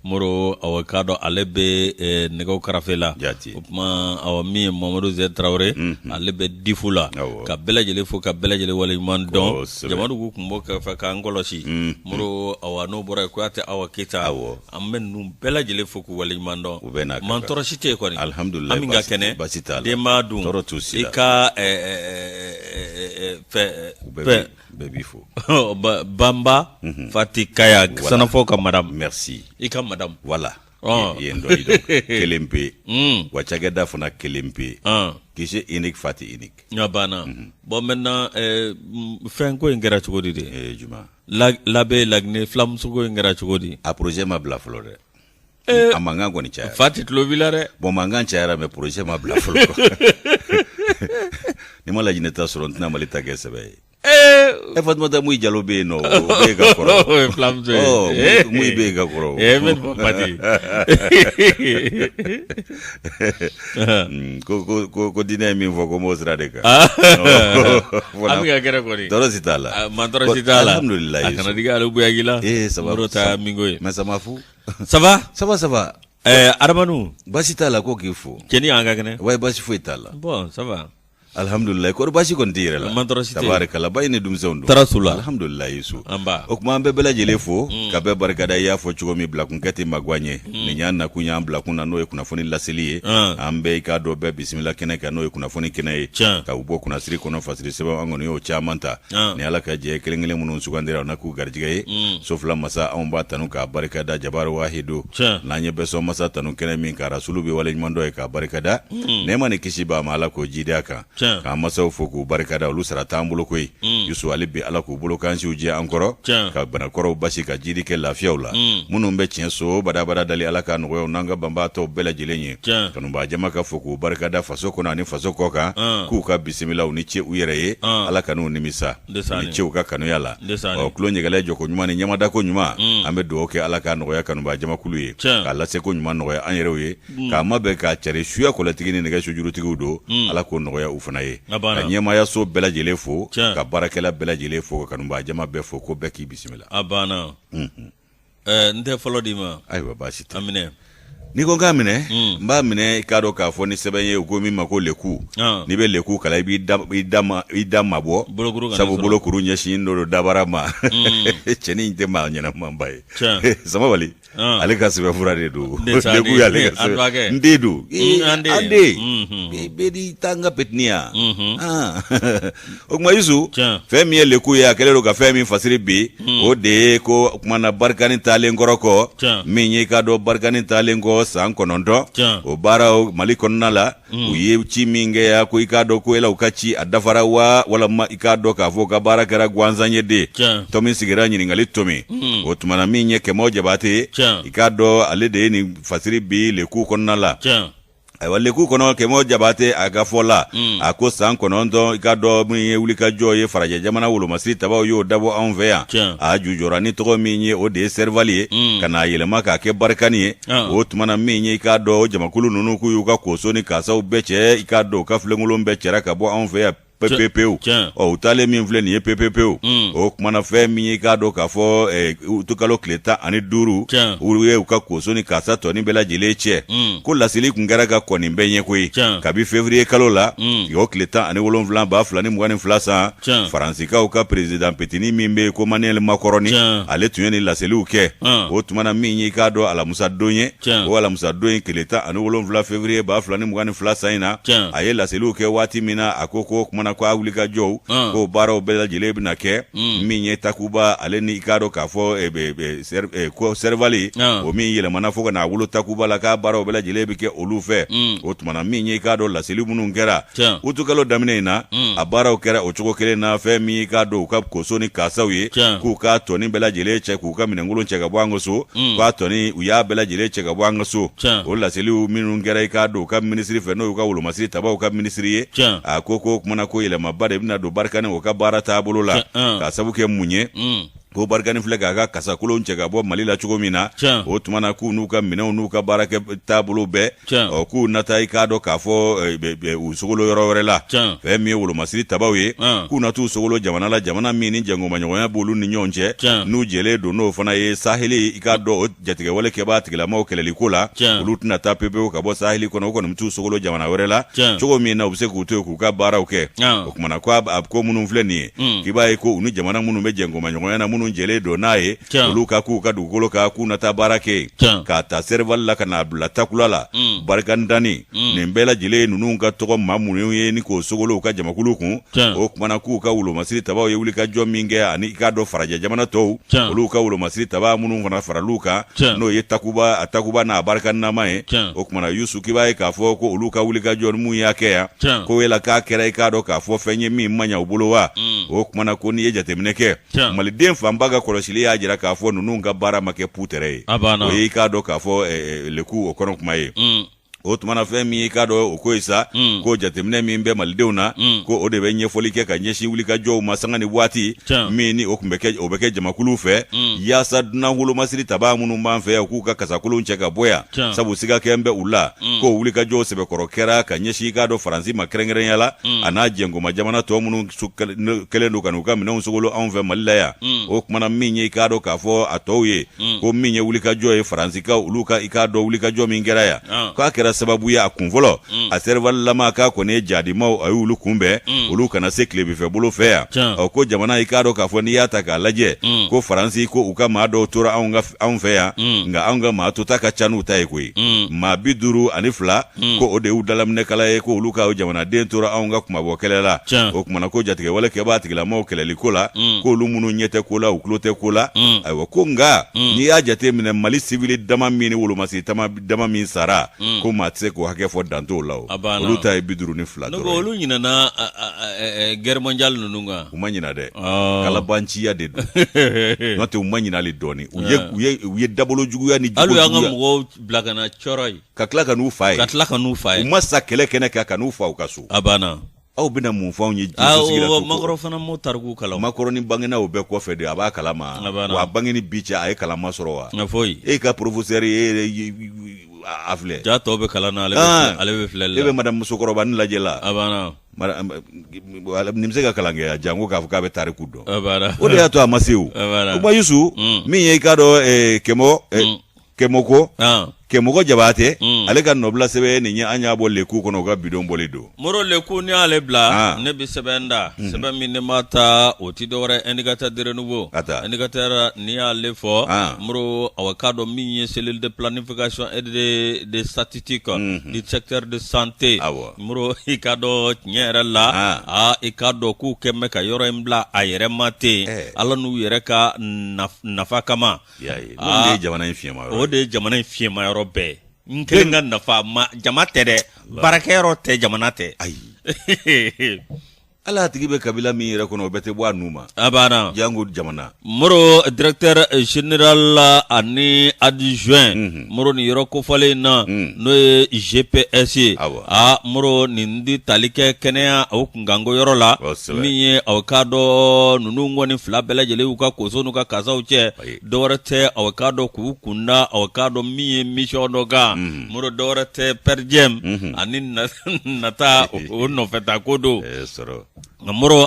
moro awa k'a dɔn ale bɛ eh, nɛgɛso karafe la o tuma awa min ye mamadu ze tarawele mhm. ale bɛ difu la ka bɛɛ lajɛlen fo ka bɛɛ lajɛlen wale ɲuman dɔn jamadugu tun b'o kɛrɛfɛ k'an kɔlɔsi mhm. moro awa n'o bɔra yen kuyate awa keyita an bɛ ninnu bɛɛ lajɛlen fo k'u wale ɲuman dɔn mantɔɔrɔ si tɛ yen kɔni alihamudulila an bɛɛ ka kɛnɛ denba dun i ka eh, eh, fɛ bɛɛ b'i fo banba fati kaya sanafo ka madamu mɛrisi i ka madamu wala yen dɔ kelen pe yen wa cakɛda fana kelen pe yen gise unique fati unique a banna bɔn maintenant fɛn ko in kɛra cogo di de juma labe laginɛ fulamuso ko in kɛra cogo di a projet ma bila fɔlɔ dɛ Eh, a mankan kɔni cayara fati tulo b'i la dɛ bon mankan cayara mɛ projet ma bila fɔlɔ ni n ma laginɛ ta sɔrɔ n tɛna mali ta kɛ sɛbɛ ye eh, e eh, fatumata muyi jalo bɛ yen nɔ o bɛ ka kɔrɔ fulamuso ye oh, muyi bɛ ka kɔrɔ eh mɛ bɔ pati ko ko ko ko diinɛ ye min fɔ ko n b'o sira de kan ah. oh, an bɛ ka gɛrɛ kɔni tɔɔrɔ si t'a la ah, mantɔɔrɔ si t'a la alhamdulilayi a kana digi ale buyaki la ee eh, sababu ta minko ye mɛ samafu ça va ça va ça va eh, arabu basi t'a la ko k'i fo cɛnin an ka kɛnɛ wa basi foyi t'a la bɔn ça va alihamdulilayi kɔrɔ basi kɔni tɛ n yɛrɛ la tabarikala ba ye ni denmisɛnw dun tɔɔrɔ si t'u la alihamdulilayi yusu o tuma an bɛ bɛɛ lajɛlen fo mm. ka bɛɛ barikada i y'a fɔ cogo min bilakun kɛ ten maguwa ɲɛ mm. nin y'an nakun y'an bilakun na n'o ye kunnafoni laseli ye ah. an bɛ i k'a dɔn bɛɛ bisimila kɛnɛ kan n'o ye kunnafoni kɛnɛ ye ka u bɔ kunnasiri kɔnɔ fasiri sɛbɛn an kɔni y'o caman ta ni ala ka jɛ kelenkelen minnu sugandira u na k'u garijɛgɛ ye mm. so fila masa anw b'a tanu k'a barikada jabaru wahidu n'a ye bɛɛ sɔn masa tanu kɛnɛ min kan rasulu bɛ waleɲumandɔn yen k'a barikada mm. nɛɛma ni kisi b'a ma ala k'o jidi a kan k'an masaw fo k'u barikada olu sara t'an bolo koyi mm. yusu ali bi ala k'u bolo kansiw jɛ an kɔrɔ ka banakɔrɔw basi ka jidi kɛ lafiyaw la minnu bɛ tiɲɛ so badabada dali ala ka nɔgɔya u n'an ka banabaatɔw bɛɛ lajɛlen ye Tiɲɛ. Kanubaa jama ka fo k'u barikada faso kɔnɔ ani faso kɔ kan, an. k'u ka bisimila u ni ce u yɛrɛ ye, an. Ala kan'u nimisa, Ndesaani. u ni ce u ka kanuya la, Ndesaani. ɔ tulo ɲɛgɛlɛ jɔko ɲuman ni ɲɛmadako ɲuman, Un. an bɛ dugawu kɛ Ala k'a nɔgɔya kanubaa jamakulu ye, Tiɲɛ. k'a laseko ɲuman nɔgɔya an yɛrɛw ye, k'a mabɛn k'a cari suya kɔlɛtigi ni nɛgɛso jurutigiw don, Un. Ala k'o nɔgɔya u fana ye, A banna. ka ɲɛmaayaso bɛɛ lajɛlen fo, Tiɲɛ. ka baarakɛla bɛɛ lajɛlen fo, ka kanubaa jama bɛɛ fo, ko bɛɛ k'i bisimila. A banna. Unhun. Eh, n tɛ fɔlɔ d'i ma ayiwa baasi tɛ a minɛ n'i ko n k'a minɛ hmm. n b'a minɛ i k'a dɔn k'a fɔ nin sɛbɛn ye u ko min ma ko leku ah. n'i bɛ leku kalan i b'i da mabɔ sabu bolokuru ɲɛsinnen don dabara ma hmm. cɛnin in tɛ maa ɲɛnamanba ye samabali ah. ale ka sɛbɛn fura de don leku y'ale ka sɛbɛn n den don hmm, an den bɛɛ n'i ta n ka petiniya o tuma Yusu fɛn min ye leku ye a kɛlen don ka fɛn min fasiri bi hmm. o de ye ko o tuma na barikani taalen kɔrɔ kɔ min ye i k'a dɔn barikani taalen kɔ san kɔnɔntɔn o baaraw Mali kɔnɔna la hmm. u ye ci min kɛ yan ko i k'a dɔn ko yala u ka ci a dafara wa walama i k'a dɔn k'a fɔ u ka baara kɛra gansan ye de tomi sigira ɲininkali tomi hmm. o tuma na min ye Kɛmɔ Jabate i k'a dɔn ale de ye nin fasiri bi leku kɔnɔna la ayiwa leku kɔnɔ kɛmɔ jabate a ka fɔ la hmm. a ko san kɔnɔntɔn i k'a dɔn min ye wulikajɔ ye farajɛ jamana wolomasiri tabaw y'o dabɔ anw fɛ yan a jujɔra ni tɔgɔ min ye o de ye sɛrivali ye hmm. ka n'a yɛlɛma k'a kɛ barikani ye ah. o tuma na min ye i k'a dɔn o jamakulu ninnu k'u y'u ka koso ni kasaw bɛɛ cɛ i k'a dɔn u ka filenkolon bɛɛ cɛra ka bɔ anw fɛ yan pepepewu u taalen min filɛ nin ye pepepewu mm. o kumana fɛn min ye i k'a dɔn k'a fɔ eh, utukalo tile tan ani duuru u ye u ka koso ni kasa tɔni bɛɛ lajɛlen cɛ mm. ko laseli kun kɛra ka kɔni bɛɛ ɲɛ koyi kabi fevriye kalo la mm. o tile tan ani wolonwula ba fila ni mugan ni fila san faransikaw ka perezidan petini min bɛ ko maniyɛli makɔrɔni ale tun ye nin laseliw kɛ o tumana min ye i k'a dɔn alamusadon ye o alamisa don in tile tan ani wolonwula fevriye ba fila ni mugan ni fila san in na a ye laseliw kɛ waati min na a ko ko kumana ko a wulikajɔw k'o baaraw bɛɛ lajɛlen bɛna kɛ min ye takuba ale ni i k'a dɔn k'a fɔ eh, eh, eh, ko sɛrivali o min yɛlɛmana fo ka n'a wolo takuba la k'a baaraw bɛɛ lajɛlen bɛ kɛ olu fɛ o tumana min ye i k'a dɔn laseli minnu kɛra utukalo daminɛ in na mm. a baaraw kɛra o cogo kelen na fɛn min i k'a dɔn u ka koso ni kasaw ye k'u ka tɔni bɛɛ lajɛlen cɛ k'u ka minɛnkolon cɛ ka bɔ an ka so mm. k'u ka tɔni u y'a bɛɛ lajɛlen cɛ ka bɔ an ka so o laseliw minnu kɛra i k'a dɔn u ka minisiri fɛ n'o y'u ka wolomasiri tabaw ka minisiri ye a ko ko o kumana ko yɛlɛmaba de bɛna don barikani o ka baara taabolo la k'a sabu kɛ mun ye mm. ko barikani filɛ k'a ka kasakolon cɛ ka bɔ mali la cogo min na o tuma na k'u n'u ka minɛnw n'u ka baarakɛ taabolo bɛɛ ɔ k'u na taa i k'a dɔn k'a fɔ eh, u sogolo yɔrɔ wɛrɛ la fɛn min ye wolomasiri tabaw ye k'u na t'u sogolo jamana la jamana min ni jɛnkomaɲɔgɔnya b'olu ni ɲɔgɔn cɛ n'u jɛlen don n'o fana ye saheli i k'a dɔn jatigɛwale kɛbaa tigilamaw kɛlɛli ko la olu tɛna taa pepewu ka bɔ saheli kɔnɔ o kɔni b'u sogolo jamana wɛrɛ la cogo min na u bɛ se k'u to yen k'u ka baaraw kɛ o tumana ko a ko minnu filɛ nin ye hmm. k'i b'a ye ko u ni jamana minnu bɛ jɛnkomaɲɔgɔnya na minnu jɛlen don n'a ye olu ka k'u ka dugukolo kan k'u na taa baara kɛ yen k'a ta serivali la ka n'a bila takuba la hmm. barikandani hmm. nin bɛɛ lajɛlen ye ninnu ka tɔgɔ maa minnu ye ni k'o sogolo u ka jamakulu kun o tumana k'u ka wolomasiri tabaw ye wulikajɔ min kɛ ani i k'a dɔn farajɛ jamana tɔw Tiɲɛ. olu ka wolomasiri taba minnu fana faral'u kan Tiɲɛ. n'o ye takuba a takuba n'a barika nama ye Tiɲɛ. o tumana yusu k'i b'a ye k'a fɔ ko olu ka wulikajɔ ni mun y'a kɛ yan Tiɲɛ. ko yala k'a kɛra i k'a dɔn k'a fɔ fɛn ye min ma ɲa u bolo wa Mm. o tumana ko n'i ye jateminɛ kɛ Tiɲɛ. maliden fanba ka kɔlɔsili y'a jira k'a fɔ ninnu ka baara ma kɛ putɛrɛ ye A banna. o ye i k'a dɔn k'a fɔ eh, eh, leku o kɔnɔ kuma ye Mm. o tuma na fɛn min i k'a dɔn o ko ye sa mm. ko jateminɛ min bɛ malidenw na mm. ko o de bɛ ɲɛfɔli kɛ ka ɲɛsin wulikajɔw ma sanga ni waati min ni o tun bɛ kɛ o bɛ kɛ jamakuluw fɛ mm. yaasa dunan wolomasiri tabaa minnu b'an fɛ yan k'u ka kasakolonw cɛ ka bɔ yan sabu siga kɛlen bɛ u la ko wulikajɔw sɛbɛkɔrɔ kɛra ka ɲɛsin i k'a dɔn faransi ma kɛrɛnkɛrɛnya la a n'a jɛnkoma jamana tɔw minnu kɛlen don ka n'u ka minɛnw sogolo anw fɛ mali la yan o tuma na min ye i k'a dɔn k'a fɔ a tɔw ye mm. ko min ye wulikajɔ ye faransikaw olu ka i k'a dɔn wulikajɔ min kɛra yan ah. k'a kɛra sababu ye a kun fɔlɔ mm. a sɛrivalilama k'a kɔni ye jadimaw a y'olu kunbɛn mm. olu kana se tilebinfɛ bolo fɛ yan ɔ ko jamana i k'a dɔn k'a fɔ n'i y'a ta k'a lajɛ mm. ko faransi ko u ka maa dɔw tora anw fɛ yan mm. nka anw ka maa tota ka ca n'u ta ye koyi mm. maa bi duuru ani fila hmm. ko o de y'u dalaminɛkala ye ko olu ka jamanaden tora anw ka kunmabɔ kɛlɛ la o kuma na ko jatigɛwale kɛbaa tigilamɔgɔw kɛlɛli ko la hmm. k'olu minnu ɲɛ tɛ ko la u tulo tɛ ko la hmm. ayiwa ko nka n'i y'a jate minɛ mali sivili dama min ni wolomasiri dama min sara ko maa tɛ se k'o hakɛ fɔ dan t'o la o olu ta ye bi duuru ni fila dɔrɔn olu ɲinana guerre mondiale ninnu kan u ma ɲina dɛ ah. kalabanciya de don n'o tɛ u ma ɲina hali dɔɔnin u ye ah. u ye dabolo juguya ni juguya hali y'an ka mɔgɔw bila ka na thiaroye ka tila ka n'u fa yen ka tila ka n'u fa yen u ma sa kɛlɛ kɛnɛ kan ka n'u fa u ka so a banna aw bɛna mun fɔ anw ye jiso macron fana m'o tariku kalan macron ni bangena o bɛɛ kɔfɛ de a b'a kalama wa a bange ni bi cɛ a ye kalama sɔrɔ wa nka foyi e ka professeur ye a filɛ ja tɔw bɛ kalan na ale bɛ ah! filɛli la e bɛ madame musokɔrɔba ni lajɛ la a banna nin bɛ se ka kalan kɛ a janko k'a fɔ k'a bɛ tariku dɔn o de y'a to a ma se o o ba yusu mm. min ye i k'a dɔn eh, kɛmɔ eh, mm. kɛmɔko kɛmɔgɔ jabatɛ mm. ale ka nɔbila sɛbɛn nin ye an y'a bɔ leku kɔnɔ u ka bi don bɔli don moro leku ni y'ale bila ne bɛ sɛbɛn da mm. sɛbɛn min ne ma ta o tɛ dɔwɛrɛ indicateur de renouveau indicateur ni y'ale fɔ moro aw k'a dɔn min ye cellule de planification et de statistique mm-hmm. du secteur de santé moro i k'a dɔn tiɲɛ yɛrɛ la aa i k'a dɔn k'u kɛ mɛ ka yɔrɔ in bila a yɛrɛ ma ten eh. ala n'u yɛrɛ ka nafa kama y'a ye ah. o de ye jamana in fiɲɛma yɔrɔ o de ye jamana in fiɲɛma yɔrɔ bɛɛ n kelen ka nafa ma jama tɛ dɛ baarakɛyɔrɔ tɛ jamana tɛ ayi hali a tigi bɛ kabila min yɛrɛ kɔnɔ o bɛɛ tɛ bɔ a nun ma a banna janko jamana moro directeur général ani adjoint mm -hmm. moro ni yɔrɔ kofɔlen in na n'o ye cps ye aa moro nin di tali kɛ kɛnɛya o kunkanko yɔrɔ la min ye aw ka dɔn ninnu kɔni fila bɛɛ lajɛlen y'u ka koso n'u ka kasaw cɛ dɔwɛrɛ tɛ aw ka dɔn k'u kunda aw ka dɔn min ye mission dɔ kan moro dɔwɛrɛ tɛ per diem ani nata o nɔfɛta ko don Nka mɔrɔ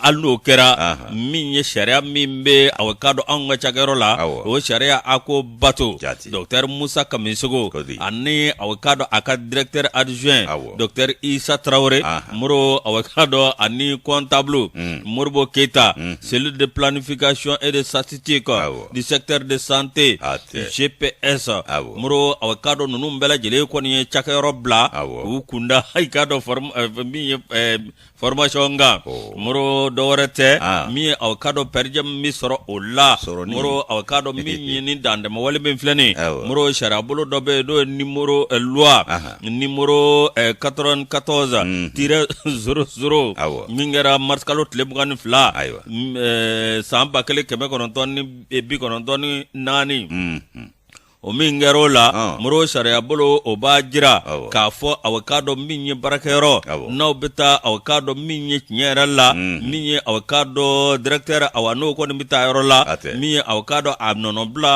hali n'o kɛra min ye sariya min bɛ a ka don anw ka cayɔrɔ la o sariya a ko bato jateri musa ka segu ani a ka don a ka dtɛ aliz isa tarawele mori ka dɔn ani kɔn taabolo moribo keyita seli de pfin kacon e de satite kɔ du secteur de santé ah, GPS ah, moro aw k'a dɔn ninnu bɛɛ lajɛlen kɔni ye cakɛyɔrɔ bila k'u kun da i k'a dɔn eh, min ye eh, formation kan oh. moro dɔ wɛrɛ tɛ min ye aw k'a dɔn perdiem min sɔrɔ o la moro aw k'a dɔn min ye ni dantɛmɛ wale min filɛ nin moro sariyabolo dɔ bɛ yen n'o ye nimoro eh, loi nimoro 94 tiret zéro zéro min kɛra mars kalo tile mugan ni fila san ba kelen kɛmɛ kɔnɔntɔn ni bi kɔnɔntɔn ni naani o min kɛra o la moro sariya bolo o b'a jira k'a fɔ aw k'a dɔn min ye baarakɛyɔrɔ n'aw bɛ taa aw k'a dɔn min ye tiɲɛ yɛrɛ la min ye aw k'a dɔn directeur awa n'o kɔni bɛ taa yɔrɔ la min ye aw k'a dɔn a nɔnɔbila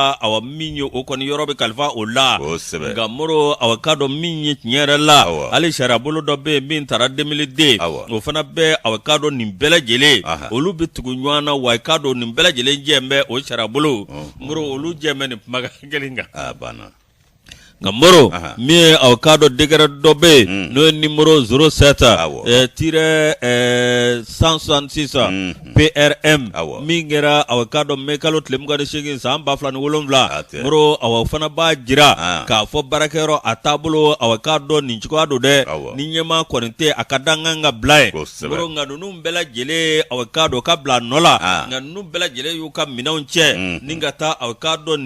min ye o kɔni yɔrɔ bɛ kalifa o la nka moro aw k'a dɔn min ye tiɲɛ yɛrɛ la hali sariya bolo dɔ bɛ yen min tara deux mille deux o fana bɛ aw k'a dɔn nin bɛɛ lajɛlen olu bɛ tugu ɲɔgɔn na wa i k'a dɔn nin bɛɛ lajɛlen jɛ bɛ o sariya bolo moro olu jɛ bɛ nin kumakan kelen kan banna Nka moro min ye aw k'a dɔn décret dɔ bɛ yen n'o ye nimoro zéro sept tiret cent soixante-six PRM min kɛra aw k'a dɔn mai kalo tile 28 san ba fila ni wolowula moro o fana b'a jira k'a fɔ baarakɛyɔrɔ a taabolo aw k'a dɔn nin cogoya don dɛ ni ɲɛmaa kɔni tɛ a ka dankan ka bila ye nka ninnu bɛɛ lajɛlen aw k'a dɔn ka bila a nɔ la nka n ninnu bɛɛ lajɛlen y'u ka minɛnw cɛ ni ka taa aw k'a dɔn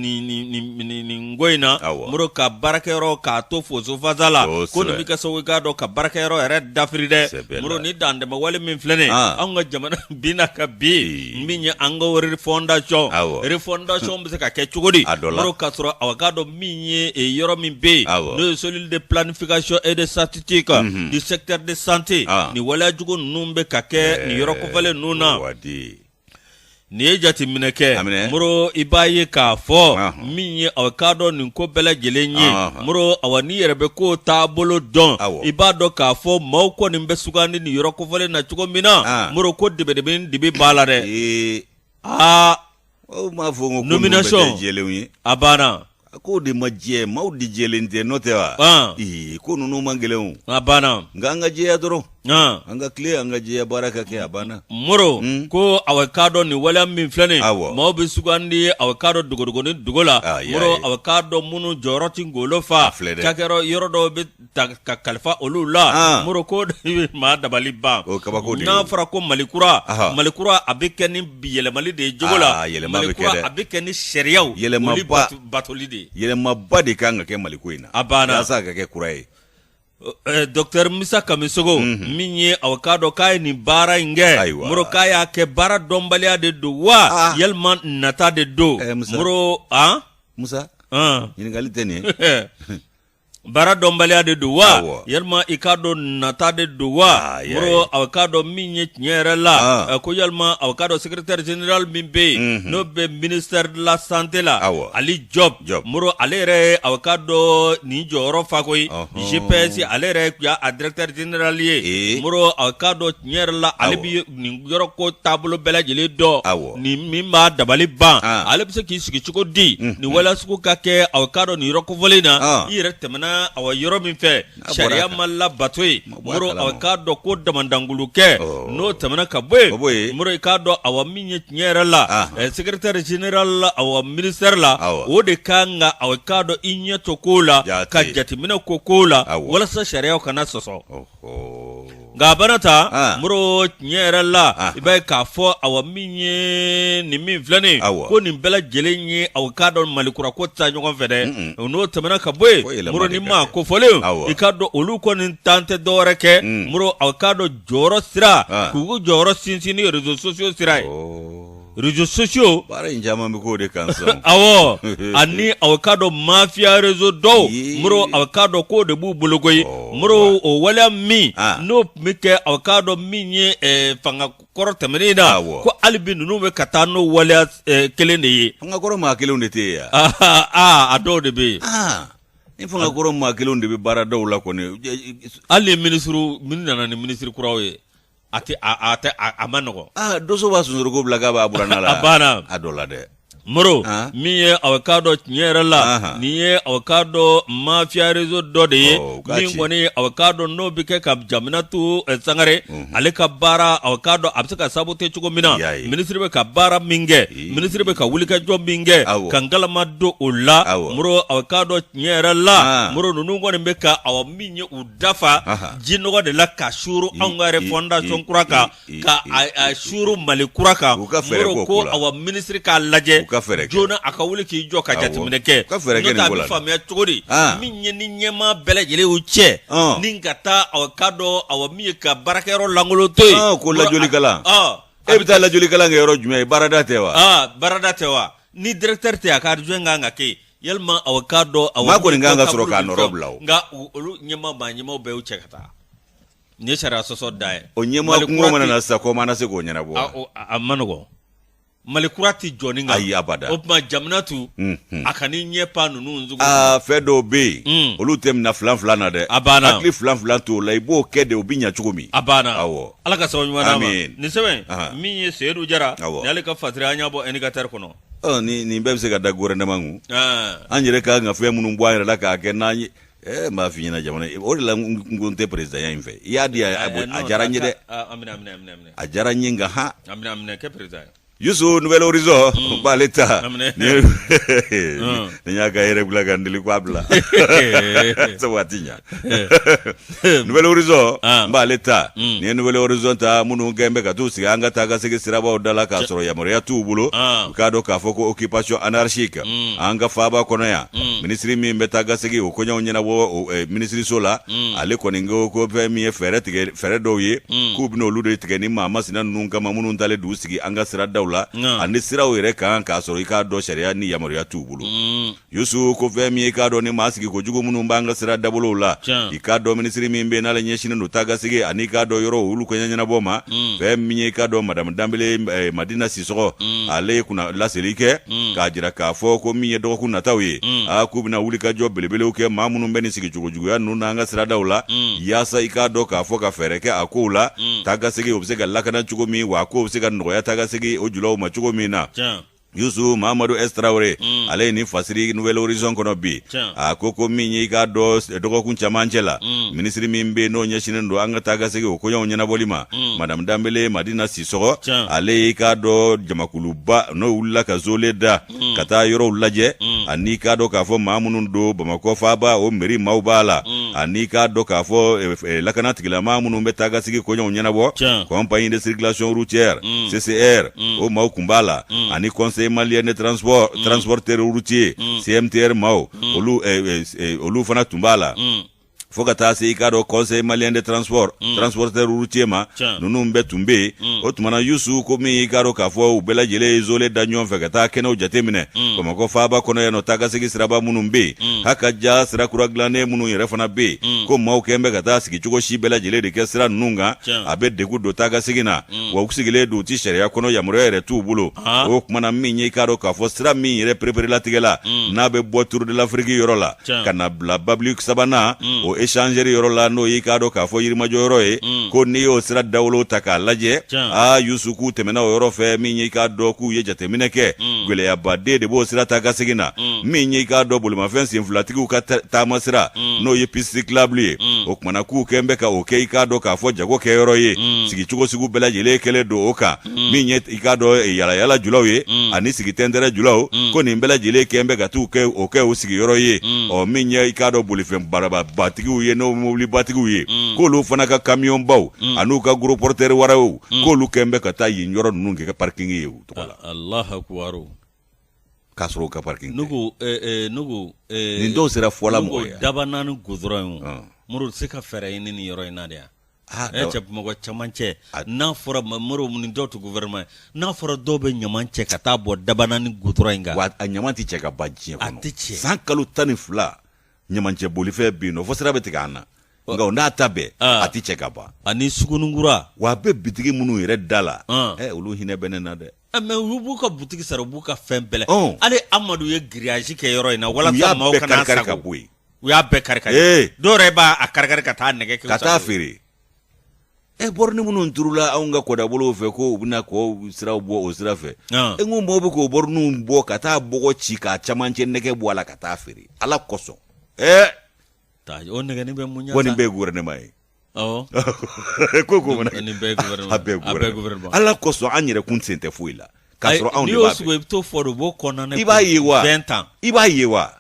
n ko in na moro ka baarakɛyɔrɔ k'a to fosofasa la ko in bɛ kɛ sababu k'a dɔn ka baarakɛyɔrɔ yɛrɛ dafiri dɛ moro ni dantɛmɛ wale min filɛ nin anw ka jamana bin na ka bin min ye an ka refondation refondation bɛ se ka kɛ cogo di moro k'a sɔrɔ aw k'a dɔn min ye yɔrɔ min bɛ yen n'o ye cellule de planification et de statistique du secteur de santé ni waleya jugu ninnu bɛ ka kɛ nin yɔrɔ kofɔlen ninnu na n'i ye jateminɛ kɛ moro i b'a ye k'a fɔ min ye aw k'a dɔn nin ko bɛɛ lajɛlen ye moro awa n'i yɛrɛ bɛ ko taabolo dɔn i b'a dɔn k'a fɔ maaw kɔni bɛ sugandi nin yɔrɔ kofɔlen na cogo min na moro ko dibidibinin dibi b'a la dɛ aa nomination a banna a ko de ma jɛ maaw de jɛlen tɛ n'o tɛ wa ah. ko ninnu man gɛlɛn a banna nka an ka jɛya dɔrɔn ah. an ka tilen an ka jɛya baara ka kɛ a banna moro hmm? ko aw k'a dɔn nin waleya min filɛ nin maaw bɛ sugandi aw k'a dɔn dogodogonin dogo la ah, moro aw k'a dɔn minnu jɔyɔrɔ tɛ ngolo fa cakɛyɔrɔ yɔrɔ dɔw bɛ ta ka kalifa olu la Ah. moro ko maa dabali ban O ye kabako de ye. n'a fɔra ko malikura Aha. malikura a bɛ kɛ ni yɛlɛmali de ye jogo la Ah, yɛlɛma bɛ kɛ malikura dɛ. a bɛ kɛ ni sariyaw Yɛlɛmaba- olu bato- batoli de ye yɛlɛmaba de kan ka kɛ maliko in na A banna. yasa a ka kɛ kura ye Eh, Docteur Musa Kamisogo min ye aw k'a dɔn k'a ye nin baara in kɛ Ayiwa. moro k'a y'a kɛ baara dɔnbaliya de don wa Ah. yalima nata de don Eh, Musa. moro an musa an ɲininkali tɛ nin ye baara dɔnbaliya de don wa Awɔ. yalima i k'a dɔn nata de don wa Ah, y'a moro ye. aw k'a dɔn min ye tiɲɛ yɛrɛ la Ah. eh, ko yalima aw k'a dɔn secrétaire général min bɛ yen Mhm. n'o bɛ ministère de la santé la Awɔ. ali job Job. moro ale yɛrɛ ye aw k'a dɔn nin jɔyɔrɔ fa koyi Ɔhɔn. cps ale yɛrɛ ye kun y'a a directeur général ye Eh. moro aw k'a dɔn tiɲɛ yɛrɛ la ale Awɔ. bɛ nin yɔrɔ ko taabolo bɛɛ lajɛlen dɔn nin min b'a dabali ban ale bɛ se k'i sigi cogo di nin waleya sugu ka kɛ aw k'a dɔn nin yɔrɔ kofɔlen na i yɛrɛ tɛmɛna awa yɔrɔ min fɛ sariya ma labato yen moro aw k'a dɔn ko damadɔw k'olu kɛ n'o tɛmɛna ka bɔ yen moro i k'a dɔn awa min ye tiɲɛ yɛrɛ la secrétaire général awa ministère la o de ka kan ka aw k'a dɔn i ɲɛ to ko la ka jateminɛ k'o ko la walasa sariyaw kana sɔsɔ nka a bana ta ah. moro tiɲɛ yɛrɛ la ah. i b'a ye k'a fɔ awa min ye nin min filɛ nin ko nin bɛɛ lajɛlen ye aw k'a dɔn malikura ko ta ɲɔgɔn fɛ dɛ n'o tɛmɛna ka bɔ yen moro nin maa kofɔlenw i k'a dɔn olu kɔni tan tɛ dɔwɛrɛ kɛ mm. moro aw k'a dɔn jɔyɔrɔ sira ah. k'u jɔyɔrɔ sinsin ni réseaux sociaux sira ye oh. réseaux sociaux baara in caman bɛ k'o de kan sisan ɔwɔ ani aw k'a dɔn mafia réseau dɔw Ee. moro aw k'a dɔn k'o de b'u bolo koyi Ɔ, moro o waleya min Ah. n'o tun bɛ kɛ aw k'a dɔn min ye eh, fanga kɔrɔ tɛmɛnen in na Awɔ. ko hali bi ninnu bɛ ka taa n'o waleya eh, kelen de ye fanga kɔrɔ maa kelenw de tɛ yen yan Ah, ah, ah, a dɔw de bɛ yen Ah, ni fanga kɔrɔ maa kelenw de bɛ baara dɔw la kɔni hali ni minisiriw minnu nana ni minisiri kuraw ye a tɛ a a tɛ a, a ma nɔgɔ aa doso b'a sonsoroko bila k'a b'a buranna la a banna a dɔ la dɛ moro Ah. min ye aw k'a dɔn tiɲɛ yɛrɛ la Aha. nin ye aw k'a dɔn mafia réseau dɔ de ye Oh, u k'a min ci. kɔni aw k'a dɔn n'o bɛ kɛ ka jeminatu eh, sangare ale ka baara aw k'a dɔn a bɛ se ka saboter cogo min na Y'a ye. minisiri bɛ ka baara min kɛ Ee. minisiri bɛ ka wulikajɔ min kɛ Awɔ. ka ngalama don o la Awɔ. moro aw k'a dɔn tiɲɛ yɛrɛ la Ah. moro ninnu kɔni bɛ ka awa min ye u da fa jinɔgɔ de la k'a suuru anw ka refondation kura kan k'a suuru mali kura kan moro ko awa minisiri k'a lajɛ joona a ka wuli k'i jɔ ka jateminɛ kɛ n'o t'a bɛ faamuya cogo di min ye nin ɲɛmaa bɛɛ lajɛlen o cɛ ni ka taa aw k'a dɔn awa min ye ka baarakɛyɔrɔ lankolon to yen ko lajlikala e bɛ taa lajlikala kɛ yɔrɔ jumɛn ye baarada tɛ wa baarada tɛ wa ni directeur tɛ a ka adjoint kan ka kɛ yalima aw k'a dɔn aw Maa kɔni kan ka sɔrɔ k'a nɔrɔ bila o. nka u- olu ɲɛma maa ɲɛmaw bɛɛ y'u cɛ ka taa nin ye sariya sɔsɔ da ye o ɲɛmaa Mali kungo kura mana tɛ- na sisan kɔma na se k'o ɲɛnabɔ a, wa? o- a, a ma nɔgɔn mali kura tɛ jɔ ni kan Ayi, abada. o tuma jamana tu Mhm. a ka ni ɲɛ pa ninnu sugu aa fɛn dɔw bɛ yen Mm. olu tɛ minɛ filan filan na dɛ A banna. hakili filan filan t'o la i b'o kɛ de o bɛ ɲɛ cogo min a banna awɔ ala ka sababu ɲuman d'a ma Amin. nin sɛbɛn Ahan. min ye seyidu jara Awɔ. ni ale ka fasiri an y'a bɔ indicateur kɔnɔ ni nin bɛɛ bɛ se ka da gouvernement kun an yɛrɛ ka kan ka fɛn minnu bɔ an yɛrɛ la k'a kɛ n'an ye ɛɛ n b'a f'i ɲɛna jamana o de la n ko n tɛ président ya in fɛ i y'a di a diyara n ye dɛ a diyara n ye nka han yusu Nouvel Horizon n b'ale ta ni y'a ka yɛrɛ bila ka n deli k'a bila sabu a ti ɲa nouvel horizon ah. n b'ale ta mm. nin ye nouvel horizon ta minnu kɛn bɛ ka t'u sigi an ka taa ka segin sirabaw da la k'a sɔrɔ yamaruya t'u bolo ah. i k'a dɔn k'a fɔ ko occupation anarchique mm. an ka faaba kɔnɔ yan mm. minisiri min bɛ taa ka segin o koɲɛw ɲɛnabɔ eh, minisiriso la ale kɔni ko ko fɛn min ye fɛɛrɛ tigɛ fɛɛrɛ dɔw ye k'u bɛna olu de tigɛ nin maa masina ninnu kama minnu taalen d'u sigi an ka siradaw la ani siraw yɛrɛ kan k'a sɔrɔ i k'a dɔn sariya ni yamaruya t'u bolo yusu ko fɛn min ye i k'a dɔn nin maa sigi ko jugu minnu b'an ka sira dabolow la i k'a dɔn minisiri min bɛ n'ale ɲɛsinen don tagasegin ani i k'a dɔn yɔrɔ olu koɲɛ ɲɛnabɔ ma mm. fɛn min ye i k'a dɔn madamu danbele eh, madina sisɔgɔ mm. ale ye kunna laseli kɛ mm. k'a jira k'a fɔ ko min ye dɔgɔkun nataw ye a k'u bɛna wulikajɔ belebelew kɛ maa minnu bɛ nin sigi cogo juguya ninnu n'an ka siradaw la yaasa i k'a dɔn k'a fɔ ka fɛɛrɛ kɛ a kow la tagasegin o bɛ se ka lakana cogo min wa a kow bɛ se ka nɔgɔya tagasegin o julaw ma cogo min na yusu mamadu s. traoré mm. ale ye nin fasiri nouvel horizon kɔnɔ bi a ko ko min y'i k'a dɔn dɔgɔkun camancɛ la mm. minisiri min bɛ n'o ɲɛsinen don an ka taa ka segin o koɲɛw ɲɛnabɔli ma mm. madame danbele madina sisɔgɔ ale y'i k'a dɔn jamakuluba n'o wulila ka zole da mm. ka taa yɔrɔw lajɛ mm. ani i k'a dɔn k'a fɔ maa minnu don bamakɔ faaba o mɛri maaw b'a la mm. ani i k'a dɔn k'a fɔ e, e, lakana tigilama minnu bɛ taa ka segin koɲɛw ɲɛnabɔ compagnie de circulation routière mm. ccr mm. o maaw kun b'a la mm. ani conseil malien de transport mm. transporteur routier mm. cmtr maaw mm. olu eh, eh, eh, olu fana tun b'a la mm. fo ka taa se i k'a dɔn conseil malien de transport mm. transporteur routier ma ninnu bɛɛ tun bɛ mm. o tuma na yusu komi i k'a dɔn k'a fɔ u bɛɛ lajɛlen ye zole da ɲɔgɔn fɛ ka taa kɛnɛw jateminɛ mm. bamakɔ faaba kɔnɔ yan nɔ taakasegin siraba minnu bɛ yen mm. haka ja sira kura dilannen minnu yɛrɛ fana bɛ yen mm. ko maaw kɛn bɛ ka taa sigi cogo si bɛɛ lajɛlen de kɛ sira ninnu kan a bɛ degun don taakasegin na mm. wa u sigilen don u tɛ sariya kɔnɔ yamaruya yɛrɛ t'u bolo o kumana min ye i k'a dɔn k'a fɔ sira min yɛrɛ pereperelatigɛla mm. n'a bɛ bɔ turudelafiriki yɔrɔ la ka na bila babili sabanan mm. o echangeri yɔrɔ la n'o y'i k'a dɔn k'a fɔ yirimajɔ yɔrɔ ye ko n'i y'o sira dawolo ta k'a lajɛ aa yusuku tɛmɛna o yɔrɔ fɛ min ye i k'a dɔn k'u ye jateminɛ kɛ gɛlɛyaba de b'o sira ta ka segin na min ye i k'a dɔn bolimafɛn senfilatigiw ka taama sira n'o ye piste cyclable ye kumana k'u kɛn bɛ ka o kɛ i k'a dɔn k'a fɔ jago kɛ yɔrɔ ye mm. sigi cogo sugu bɛɛ lajɛlen kɛlen don o kan mm. min ye i k'a dɔn eh, yalayala julaw ye mm. ani sigi tɛntɛrɛ julaw ko nin bɛɛ lajɛlen kɛn bɛ ka t'u kɛ o kɛ u sigiyɔrɔ ye ɔ min ye i k'a dɔn bolifɛn barababatigiw ye n'o mobilibatigiw ye k'olu fana ka kamiyɔnbaw an'u ka gros porteur waraw k'olu kɛn bɛ ka taa yen yɔrɔ ninnu kɛ u ka parikingi ye u tɔgɔ la K'a sɔrɔ u ka pariki n ko nin dɔw sera fɔlɔ mɔgɔ dabanani gudɔrɔn ye mobili se ka fɛrɛ ye ni ni yɔrɔ in na de yan ne cɛ mɔgɔ caman cɛ n'a fɔra ma mobili minnu dɔw tun gouvernement ye n'a fɔra dɔw bɛ ɲama cɛ ka taa bɔ dabanani gudɔrɔn in kan a ɲama tɛ cɛ ka ban diɲɛ kɔnɔ san kalo tan ni fila ɲama cɛ bolifɛn bɛ yen nɔ fo sira bɛ tigɛ an na nka o n'a ta bɛɛ a tɛ cɛ ka ban ani sugunikura wa a bɛ bitigi minnu yɛrɛ da la olu hinɛ bɛ ne na dɛ Ah, mais u b'u ka boutique sara u b'u ka fɛn bɛɛ la Ɔn. hali amadu ye grillage kɛ yɔrɔ in na u y'a walasa maaw bɛɛ kana karikari ka sagon bɔ yen u y'a bɛɛ karikari Ee. dɔw yɛrɛ b'a a karikari ka taa nɛgɛ kɛ u ka sagon taa ye. feere e bɔrɔni minnu turula anw ka kɔdabolow fɛ ko u bɛna kɔ sira bɔ o sira fɛ Ɔn. n ko mɔɔw bɛ k'o bɔrɔniw bɔ ka taa bɔgɔ ci k'a camancɛ nɛgɛ bɔ a la ka taa feere ala kosɔn ɛ Taa- o nɛgɛni bɛ mun ɲɛ kɔni sa? bɛ gouvernement ye ko ala kosɔn an yɛrɛkun sen tɛ foyi la ka sɔrɔ anw to i b'a ye wa tan i b'a ye wa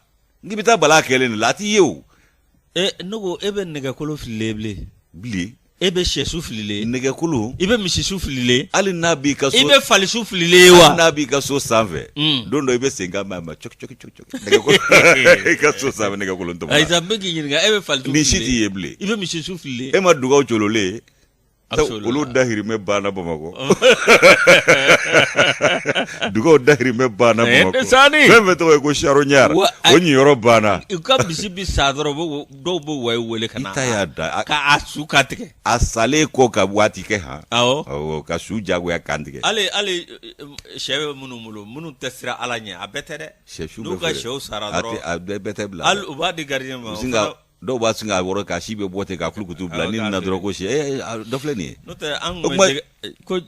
n'i bɛ taa bala kɛlen de la a t'i ye o ne ko e bɛ nɛgɛkolon fili bilen bilen e bɛ shɛsu fililen nɛgɛkolon i bɛ misisu fililen hali n'a b'i ka so i bɛ falisu fililen wa n'a b'i ka so sanfɛ don dɔ i bɛ se ka i ka so sanfɛ nɛgɛ kolon tɔmɔ ayi bɛ k'i ɲininka e bɛ fali ni si t'i ye bilen i bɛ misi su fili e ma dugaw jololen olu dahirimɛ banna bamakɔ dugaw dahirimɛ banna bamakɔ fɛn fɛn tɔgɔ ye ko charognard o niyɔrɔ banna i ka misi bɛ sa dɔrɔn dɔw bɛ waye weele ka ta y'a da k'a su kan tigɛ a salen kɔ ka waati kɛ hɔn ka su jagoya kan tigɛ hali hali shɛ bɛ minnu bolo minnu tɛ siran ala ɲɛ a bɛɛ tɛ dɛ n'u ka shɛw sara bɛɛ tɛ bila u b'a di gardien ma dɔw b'a sin k'a wɔrɔ k'a si bɛɛ bɔ ten k'a kulukutu bila ni na dɔrɔn ko shɛ dɔ filɛ nin ye ko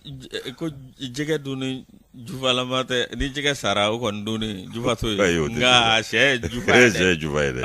ko jɛgɛ dun ni jufalama tɛ ni jɛgɛ sara o kɔni dun ni jufato ye nka sɛ jufa ye sɛ jufa ye dɛ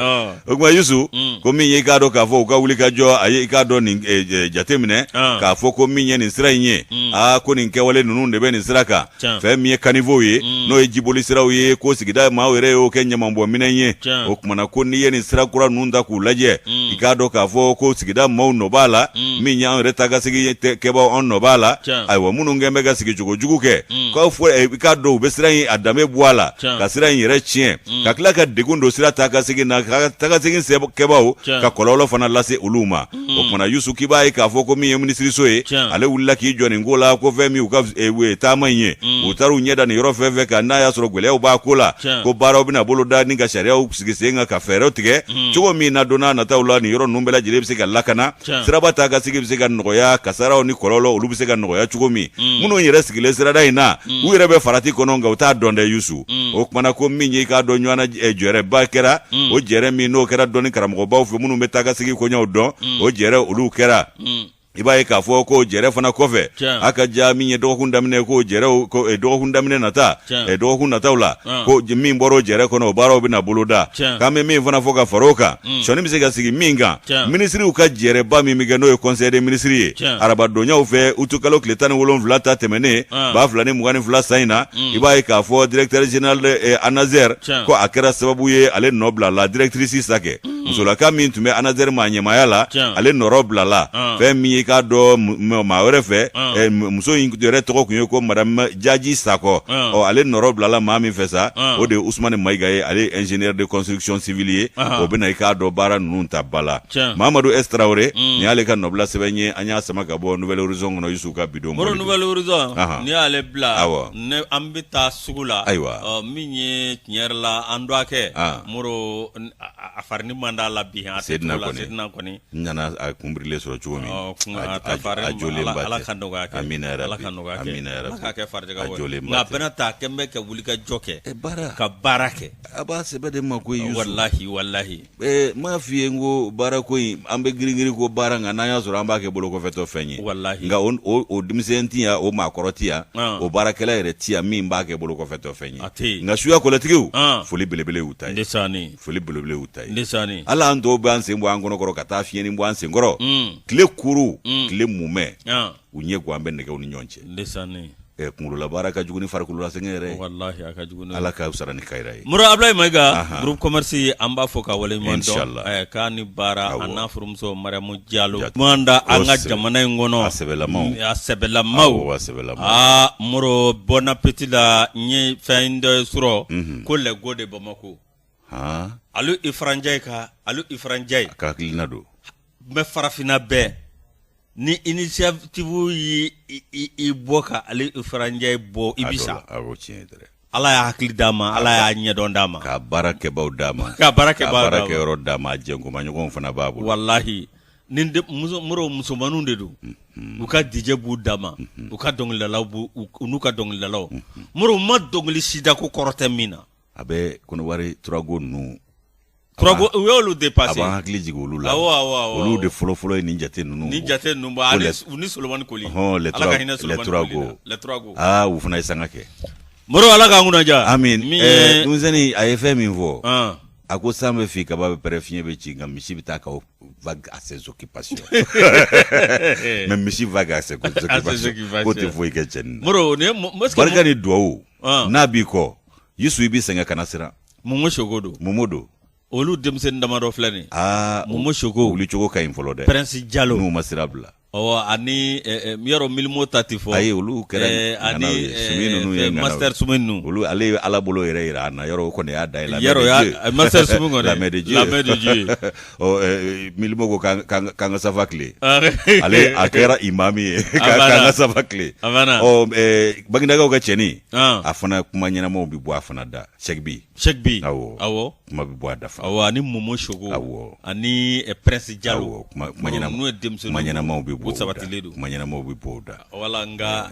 o tuma Yusu mm. ko min ye i k'a dɔn k'a fɔ u ka wuli ka jɔ a ye i k'a dɔn nin eh, eh, jateminɛ k'a fɔ ko min ye nin sira in ye mm. aa ko nin kɛwale ninnu de bɛ nin sira kan fɛn min ye caniveaux ye mm. n'o ye jiboli siraw ye ko sigida maaw yɛrɛ y'o kɛ ɲamanbɔnminɛn ye o kumana ko n'i ye nin sira kura ninnu ta k'u lajɛ mm. i k'a dɔn k'a fɔ ko sigida maaw nɔ b'a la mm. min y'an yɛrɛ taa ka segin kɛbaaw an nɔ b'a la ayiwa minnu kɛn bɛ ka sigi cogo jugu kɛ k'a fɔ eh, i k'a dɔn u bɛ sira in a danbe bɔ a la ka sira in yɛrɛ tiɲɛ ka tila ka degun don sira taa ka segin na ka taa ka segin kɛbaaw ka kɔlɔlɔ fana lase olu ma o kumana yusu k'i b'a ye k'a fɔ ko min ye minisiriso ye ale wulila k'i jɔ nin ko la ko fɛn min u ka eh, taama in ye mm. u taara u ɲɛ da nin yɔrɔ fɛn fɛn kan n'a y'a sɔrɔ gɛlɛyaw b'a ko la ko baaraw bɛna boloda ani ka sariyaw sigi sen kan ka fɛɛrɛw tigɛ mm. cogo min na don nataw la nin yɔrɔ ninnu bɛɛ lajɛlen bɛ se ka lakana siraba taa ka segin bɛ se ka nɔgɔya kasaraw ni kɔlɔlɔ olu bɛ se ka nɔgɔya cogo min mm. minnu yɛrɛ sigilen sirada in na u yɛrɛ bɛ farati kɔnɔ nka u t'a dɔn dɛ yusu mm. o kumana ko min ye i k'a dɔn ɲɔgɔnna eh, jɛrɛba kɛra mm. o jɛrɛ min n'o kɛra dɔnni karamɔgɔbaw fɛ minnu bɛ taa ka segin koɲɛw dɔn mm. o jɛrɛ olu kɛra mm. i b'a ye k'a fɔ k'o jɛrɛ fana kɔfɛ a ka ja min ye dɔgɔkun daminɛ k'o jɛrɛ ko eh, dɔgɔkun daminɛ nata eh, dɔgɔkun nataw la ko min bɔra o jɛrɛ kɔnɔ o baaraw bɛna boloda k'an bɛ min fana fɔ ka fara o kan mm. sɔni bɛ se ka sigi min kan minisiriw ka jɛrɛba min bɛ kɛ n'o ye conseil des ministres ye arabadonyaw fɛ utikalo tile tan ni wolonwula ta tɛmɛnen ah. ba fila ni mugan ni fila san in na mm. i b'a ye k'a fɔ directeur général eh, ANASER ko a kɛra sababu ye ale nɔ bilala directrice sakɛ mm. musolaka min tun bɛ ANASER ma ɲɛmaaya la ale nɔrɔ bilala ah. fɛn min ye k'a dɔn maa wɛrɛ fɛ ah. eh, muso in yɛrɛ tɔgɔ tun ye ko madame jaji sakɔ ɔ ale nɔrɔ bilala maa min fɛ sa o de ye usumani mayiga ye ale ingénieur de construction civile ye o bɛna i k'a dɔn baara ninnu ta ba la mamadu S Traoré mm. nin y'ale ka nɔbila sɛbɛn ye an y'a sama ka bɔ nouvel horizon kɔnɔ yusu ka bidon mori nouvel horizon n'i y'ale bila awɔ ne an bɛ taa sugu la ayiwa min ye tiɲɛ yɛrɛ la an dɔgɔkɛ moro a farini man d'a la bi a sedina kɔni sedina kɔni nana a kunbirilen sɔrɔ cogo min a jɔlen ba ala ka nɔgɔya kɛ amina yarabi ala ka nɔgɔya kɛ amina yarabi ala k'a kɛ farijagabɔ ye nka a bɛɛ n'a ta a kɛn bɛ ka wuli ka jɔ kɛ baara ka baara kɛ A b'a sɛbɛ de ma ko walahi walahi m'a f'i ye n ko baara ko in an bɛ giringirin ko baara nka n'a y'a sɔrɔ an b'a kɛ bolo kɔfɛtɔ fɛn ye walahi nka o denmisɛnnin tɛ yan o maa kɔrɔ tɛ yan o baarakɛla yɛrɛ tɛ yan min b'a kɛ bolo kɔfɛtɔ fɛn ye nka suya kɔlɛtigiw foli belebele u ta foli belebele u ta hali an dɔw bɛ an sen bɔ an kɔnɔkɔrɔ ka taa fiɲɛnin bɔ an senkɔrɔ tile kuru tile mumɛ u ɲɛ gan an bɛ nɛgɛw ni ɲɔgɔn cɛ eh, kunkololabaara ka jugu ni farikololasɛgɛn yɛrɛ ala k'u sara ni kayira ye moro abulayi mayiga groupe commerce an b'a fo k'a waleɲuman dɔn k'a ni baara a n'a furumuso mariamu jalo da an ka jamana in kɔnɔ a sɛbɛlama a sɛbɛlama sɛbɛ aa moro bon appétit la n ye fɛn dɔ sɔrɔ mhm. ko les go de bamakɔ aliyu ifra njayi ka aliyu ifra njayi ka hakilina don mais farafinna bɛɛ ni initiative y'i bɔ ka aliyu ifra njayi bɔ i bɛ sa ala y'a hakili d'a ma ala y'a ɲɛdɔn d'a ma ka baarakɛbaw d'a ma ka baara kɛ baarakɛyɔrɔ d'a ma jɛkuma ɲɔgɔn fana b'a bolo walahi ni moro musomanw de don u ka DJ b'u dama u ka dɔnkilidalaw n'u ka dɔnkilidalaw moro ma dɔnkili si da ko kɔrɔ tɛ min na a bɛ kɔnɔwari trois go ninnu trois go u y'olu dépassé a b'an hakili jigin olu la awɔ awɔ awɔ olu de fɔlɔfɔlɔ ye nin jate ninnu ni jate ninnu bɔ ale u ni solomani koli hɔn ala ka hinɛ solomani koli la trois go aa u fana ye sanga kɛ moro ala k'an kunna ja amin min ye denmisɛnnin a ye fɛn min fɔ a ko san bɛ fin kaba bɛ pɛrɛn fiɲɛ bɛ ci nka misi bɛ taa ka vaquer à ses occupations mais misi vaquer à ses occupations k'o tɛ foyi kɛ cɛnin na moro barika ni duwawu n'a b'i kɔ yusu i b'i sɛgɛn kana siran momo choco don momo don olu denmisɛnnin damadɔ filɛ nin aa momo choco wuli cogo ka ɲi fɔlɔ dɛ prince jalo n'u ma sira bila ɔwɔ ani yɔrɔ milimo ta tɛ fɔ ayi olu kɛra ani sumi ninnu ye master sumi ninnu olu ale ye ala bolo yɛrɛ yira an na yɔrɔ o kɔni y'a da yɛlɛ yɔrɔ master sumi kɔni la main de dieu la main de dieu milimo ko k'an ka safa tilen ale a kɛra imamu ye k'an ka safa tilen bagindakaw ka cɛnin a fana kuma ɲɛnamaw bɛ bɔ a fana da cheick b awɔ kuma bɛ bɔ a da fana awɔ ani momo choco awɔ ani prince jalo n'u ye denmuso kuma ɲɛnamaw bɛ bɔ sabati don kuma ɲɛnamaw bɛ bɔ da voilà an ka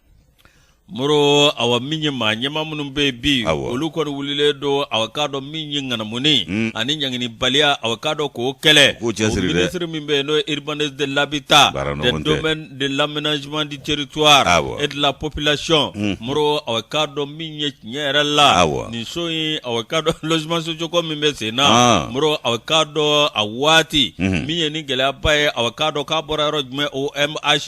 moro awa min ye maa ɲɛma minnu bɛ yen bi olu kɔni wulilen don awa k'a dɔn min ye ŋanamunin hmm. ani ɲanginibaliya awa k'a dɔn k'o kɛlɛ o minisiri min bɛ yen n'o ye urbanisme de l'habitat des domaines de l'aménagement du territoire et de la population hmm. moro awa k'a dɔn min ye tiɲɛ yɛrɛ la nin so in awa k'a dɔn logements sociaux ko min bɛ sen na ah. moro awa k'a dɔn a waati hmm. min ye ni gɛlɛyaba ye awa k'a dɔn k'a bɔra yɔrɔ jumɛn OMH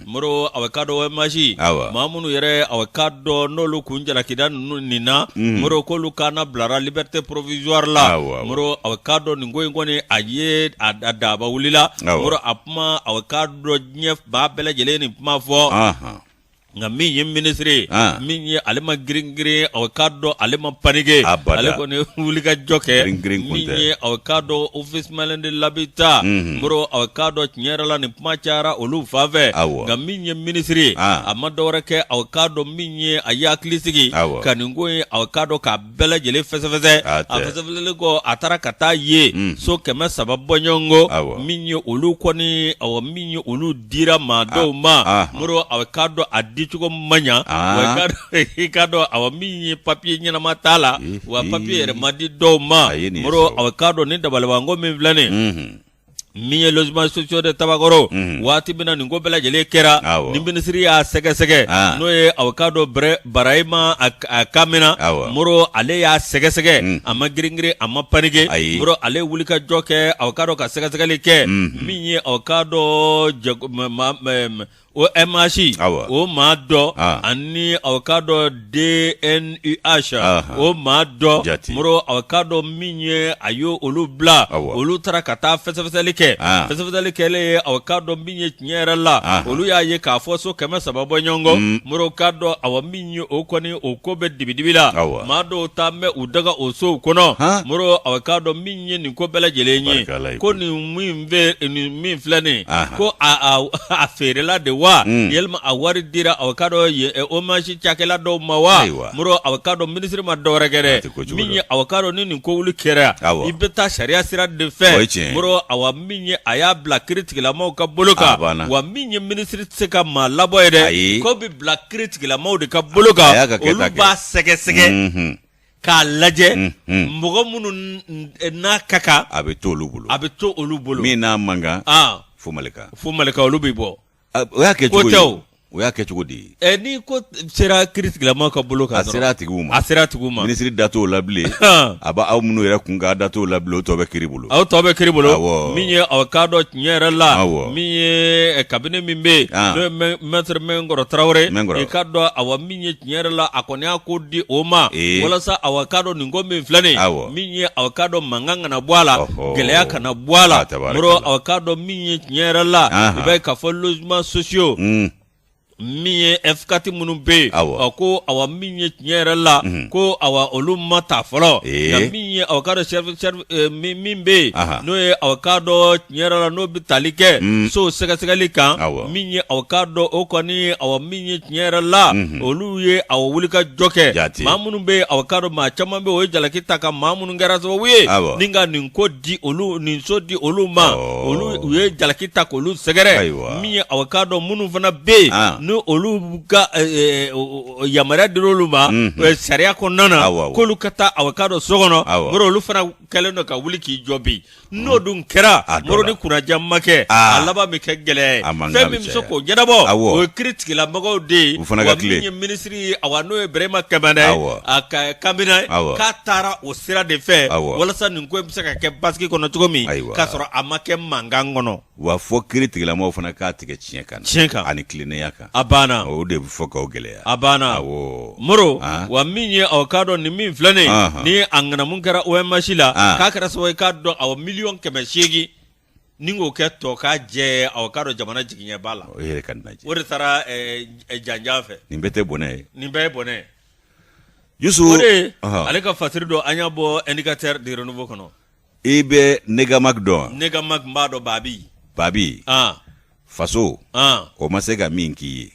Moro a bɛ k'a dɔn OMH awɔ, maa minnu yɛrɛ a bɛ k'a dɔn n'olu tun jalakilen don nin na, unhun, Moro k'olu kannabilara liberté provisoire la, awɔ, awɔ, Moro a bɛ k'a dɔn nin ko in kɔni a ye a daba wulila, awɔ, Moro a kuma a bɛ k'a dɔn diɲɛ maa bɛɛ lajɛlen ye nin kuma fɔ, anhan nka min ye minisiri ye ah. min ye ale ma girin-girin a bɛ k'a dɔn ale ma panike ale kɔni wulikajɔ kɛ min ye a bɛ k'a dɔn ofisi malien de l'habitat moro a k'a dɔn tiɲɛ yɛrɛ la ni kuma cayara olu fanfɛ nka min ye minisiri a ma dɔwɛrɛ kɛ a k'a dɔn min ye a y'a hakili sigi ka nin ko ye a k'a dɔn k'a bɛɛ lajɛlen fɛsɛfɛsɛ a fɛsɛfɛsɛlen kɔ a taara ka taa ye so kɛmɛ saba bɔɲɔgɔnko min ye olu kɔni aw min ye olu dira maa dɔw ma moro a k'a dɔn a dicogo man ɲa i k'a dɔn a min ye papiye ɲɛnama t'a la wa papiye yɛrɛ ma di dɔw ma moro a k'a dɔn ni dabalibanko min filɛ nin min ye logements sociaux de tabakɔrɔ mhm. waati min na nin ko bɛɛ lajɛlen kɛra ni minisiri y'a sɛgɛsɛgɛ ah. n'o ye aw k'a dɔn barahima kamena moro ale y'a sɛgɛsɛgɛ mhm. a ma giringirin a ma panike moro ale wulikajɔ kɛ aw k'a dɔn ka sɛgɛsɛgɛli kɛ mhm. min ye aw k'a dɔn OMH o maa dɔ ani aw k'a dɔn DNUH o maa dɔ mɔrɔ aw k'a dɔn min ye a ye olu bila olu taara ka taa fɛsɛfɛsɛli kɛ fɛsɛfɛsɛli kɛlen ye aw k'a dɔn min ye tiɲɛ yɛrɛ la olu y'a ye k'a fɔ so kɛmɛ saba bɔɲɔgɔnko mɔrɔ k'a dɔn a min ye o kɔni o ko bɛ dibidibi la maa dɔw tun bɛ u daga o sow kɔnɔ moro a k'a dɔn min ye nin ko bɛɛ lajɛlen ye ko nin min filɛ nin ko a feerela de wa walima a wari dira aw k'a dɔn OMH cakɛla dɔw ma wa moro a k'a dɔn minisiri ma dɔwɛrɛ kɛ dɛ min ye a k'a dɔn ni nin ko wuli kɛra i bɛ taa sariya sira de fɛ moro a min ye a y'a bila kiritigɛlamɔgɔw ka bolo kan wa min ye minisiri tɛ se ka maa labɔ yen dɛ ko bɛ bila kiritigɛla maaw de ka bolo kan A y'a ka kɛta olu kɛ. b'a sɛgɛsɛgɛ Mhm. k'a lajɛ Mhm. mɔgɔ minnu n- n- n'a ka kan a bɛ to olu bolo a bɛ to olu bolo min n'a man kan Ah, fo malika fo malika olu bɛ bɔ Ah, o y'a kɛ Ko cogo tɛ o. di o y'a kɛ cogo di Eh, ni ko t- sera kiritigɛla maaw ka bolo kan a dɔrɔn, sera a tigiw ma a sera a tigiw ma minisiri da t'o la bilen Ah. a b'a aw minnu yɛrɛ kun k'a da t'o la bilen o tɔ bɛ kiri bolo o tɔ bɛ kiri bolo min ye aw k'a dɔn tiɲɛ yɛrɛ la min ye kabinɛ min bɛ yen ah. n'o ye mɛtiri mɛnkɔrɔ tarawele i k'a dɔn aw min ye tiɲɛ yɛrɛ la a kɔni y'a ko di o ma eh. walasa aw k'a dɔn nin ko min filɛ nin min ye aw k'a dɔn mankan kana bɔ a la gɛlɛya kana bɔ a la ah, mɔrɔ aw k'a dɔn min ye tiɲɛ yɛrɛ la i b'a ye k'a fɔ logements sociaux hmm. min ye F4 minnu bɛ yen aw ko aw min ye tiɲɛ yɛrɛ la mhm. ko aw olu ma ta fɔlɔ nka min ye aw k'a dɔn min bɛ yen n'o ye aw k'a dɔn tiɲɛ yɛrɛ la n'o bɛ tali kɛ mm. so sɛgɛsɛgɛli kan min ye aw k'a dɔn o kɔni aw min ye tiɲɛ yɛrɛ la mhm. olu ye aw wulikajɔ kɛ maa minnu bɛ yen aw k'a dɔn maa caman bɛ o ye jalaki ta ka maa minnu kɛra sababu ye ni ka nin ko di olu nin so di olu ma olu ye jalaki ta k'olu sɛgɛrɛ min ye aw k'a dɔn minnu fana bɛ yen ah. ni olu ka yamaruya dira olu ma mhm. sariya kɔnɔna na k'olu ka taa aw k'a dɔn so kɔnɔ Moro olu fana kɛlen don ka wuli k'i jɔ bi n'o mhm. dun kɛra Moro ni kunnandiya ma kɛ ah. a laban bɛ kɛ gɛlɛya ye fɛn min bɛ se k'o ɲɛnabɔ o ye kiri tigilamɔgɔw de ye wa min ye minisiri minisiri awa n'o ye Birehima Kamena ye a ka kabinɛ k'a taara o sira de fɛ walasa nin ko in bɛ se ka kɛ basigi kɔnɔ cogo min k'a sɔrɔ a ma kɛ mankan kɔnɔ wa fɔ kiri tigilamɔgɔw fana k'a tigɛ tiɲɛ kan tiɲɛ kan ani tilennenya kan a banna o de bɛ fɔ k'aw gɛlɛya a banna Moro wa min ye aw k'a dɔn nin min filɛ nin ni a ŋanamu kɛra OMH la k'a kɛra sababu ye k'a dɔn awa miliyɔn kɛmɛ seegin ni kɔ kɛtɔ ka jɛ aw k'a dɔn jamana jigiɲɛba la o yɛrɛ ka lajɛ o de taara janjan fɛ nin bɛɛ tɛ bɔnɛ ye nin bɛɛ ye bɔnɛ Yusu o de ale ka fasiri don an y'a bɔ Indicateur du Renouveau kɔnɔ i bɛ Negamag dɔn Negamag n b'a dɔn Babi Babi faso o ma se ka min k'i ye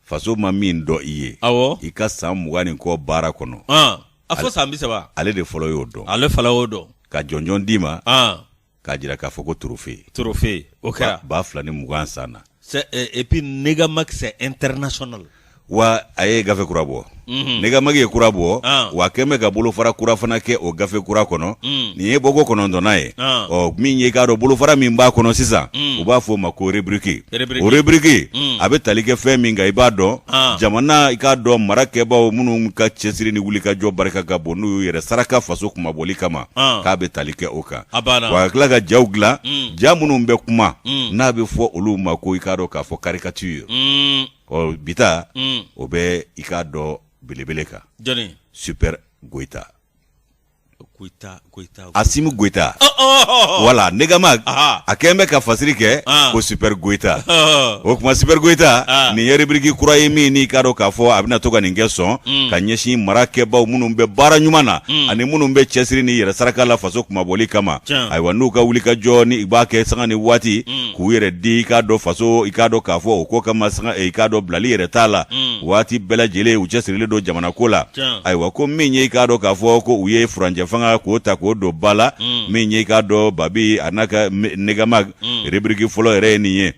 faso ma min dɔn i ye awɔ i ka san mugan ni kɔ baara kɔnɔ a fɔ san bi saba ale de fɔlɔ y'o dɔn ale fɔlɔ y'o dɔn ka jɔnjɔn d'i ma an k'a jira k'a fɔ ko trophée trophée o kɛra ba fila ni mugan san na c'est euh, et puis Negamag c'est international wa a ye gafe kura bɔ Mhm. Negamag ye kura bɔ Ah. w'a kɛn bɛ ka bolofara kura fana kɛ o gafe kura kɔnɔ Mm. nin ye bɔko kɔnɔntɔnnan ye Ah. ɔ min ye i k'a dɔn bolofara min b'a kɔnɔ sisan Mm. u b'a fɔ o ma ko rebriki Rubrique. o rebriki Mm. a bɛ tali kɛ fɛn min kan i b'a dɔn Ah. jamana i k'a dɔn mara kɛbaaw minnu ka cɛsiri ni wulikajɔ barika ka bon n'u y'u yɛrɛ saraka faso kunmabɔli kama Ah. k'a bɛ tali kɛ o kan A banna. wa ka tila ka jaw dilan Mm. ja minnu bɛ kuma Mm. n'a bɛ fɔ olu ma ko i k'a dɔn k'a fɔ karikatire Mm. ɔ bi ta mm. o bɛ i k'a dɔn belebele kan jɔni Super Goyita Goyita, Goyita, Goyita. Asimi Goyita. Oh, oh, oh, Wala, Negamag, Aha. a kɛlen bɛ ka fasiri kɛ ah. ko Super Goyita. O kuma Super Goyita, ah. nin ye rubrique kura ye min n'i k'a dɔn k'a fɔ a bɛna to ka nin kɛ sɔn mm. ka ɲɛsin mara kɛbaaw minnu bɛ baara ɲuman na mm. ani minnu bɛ cɛsiri ni yɛrɛ saraka la faso kunmabɔli kama. Ayiwa n'u ka wulikajɔ ni u b'a kɛ sanga ni waati mm. k'u yɛrɛ di i k'a dɔn faso i k'a dɔn k'a fɔ o ko kama sanga i k'a dɔn bilali yɛrɛ t'a la waati bɛɛ lajɛlen u cɛsirilen don jamana ko la ayiwa ko min ye i k'a dɔn k'a fɔ ko u ye furancɛfanga ko ta k'o don ba la min ye i k'a dɔn Babi a n'a ka Negamag rebiriki fɔlɔ yɛrɛ ye nin ye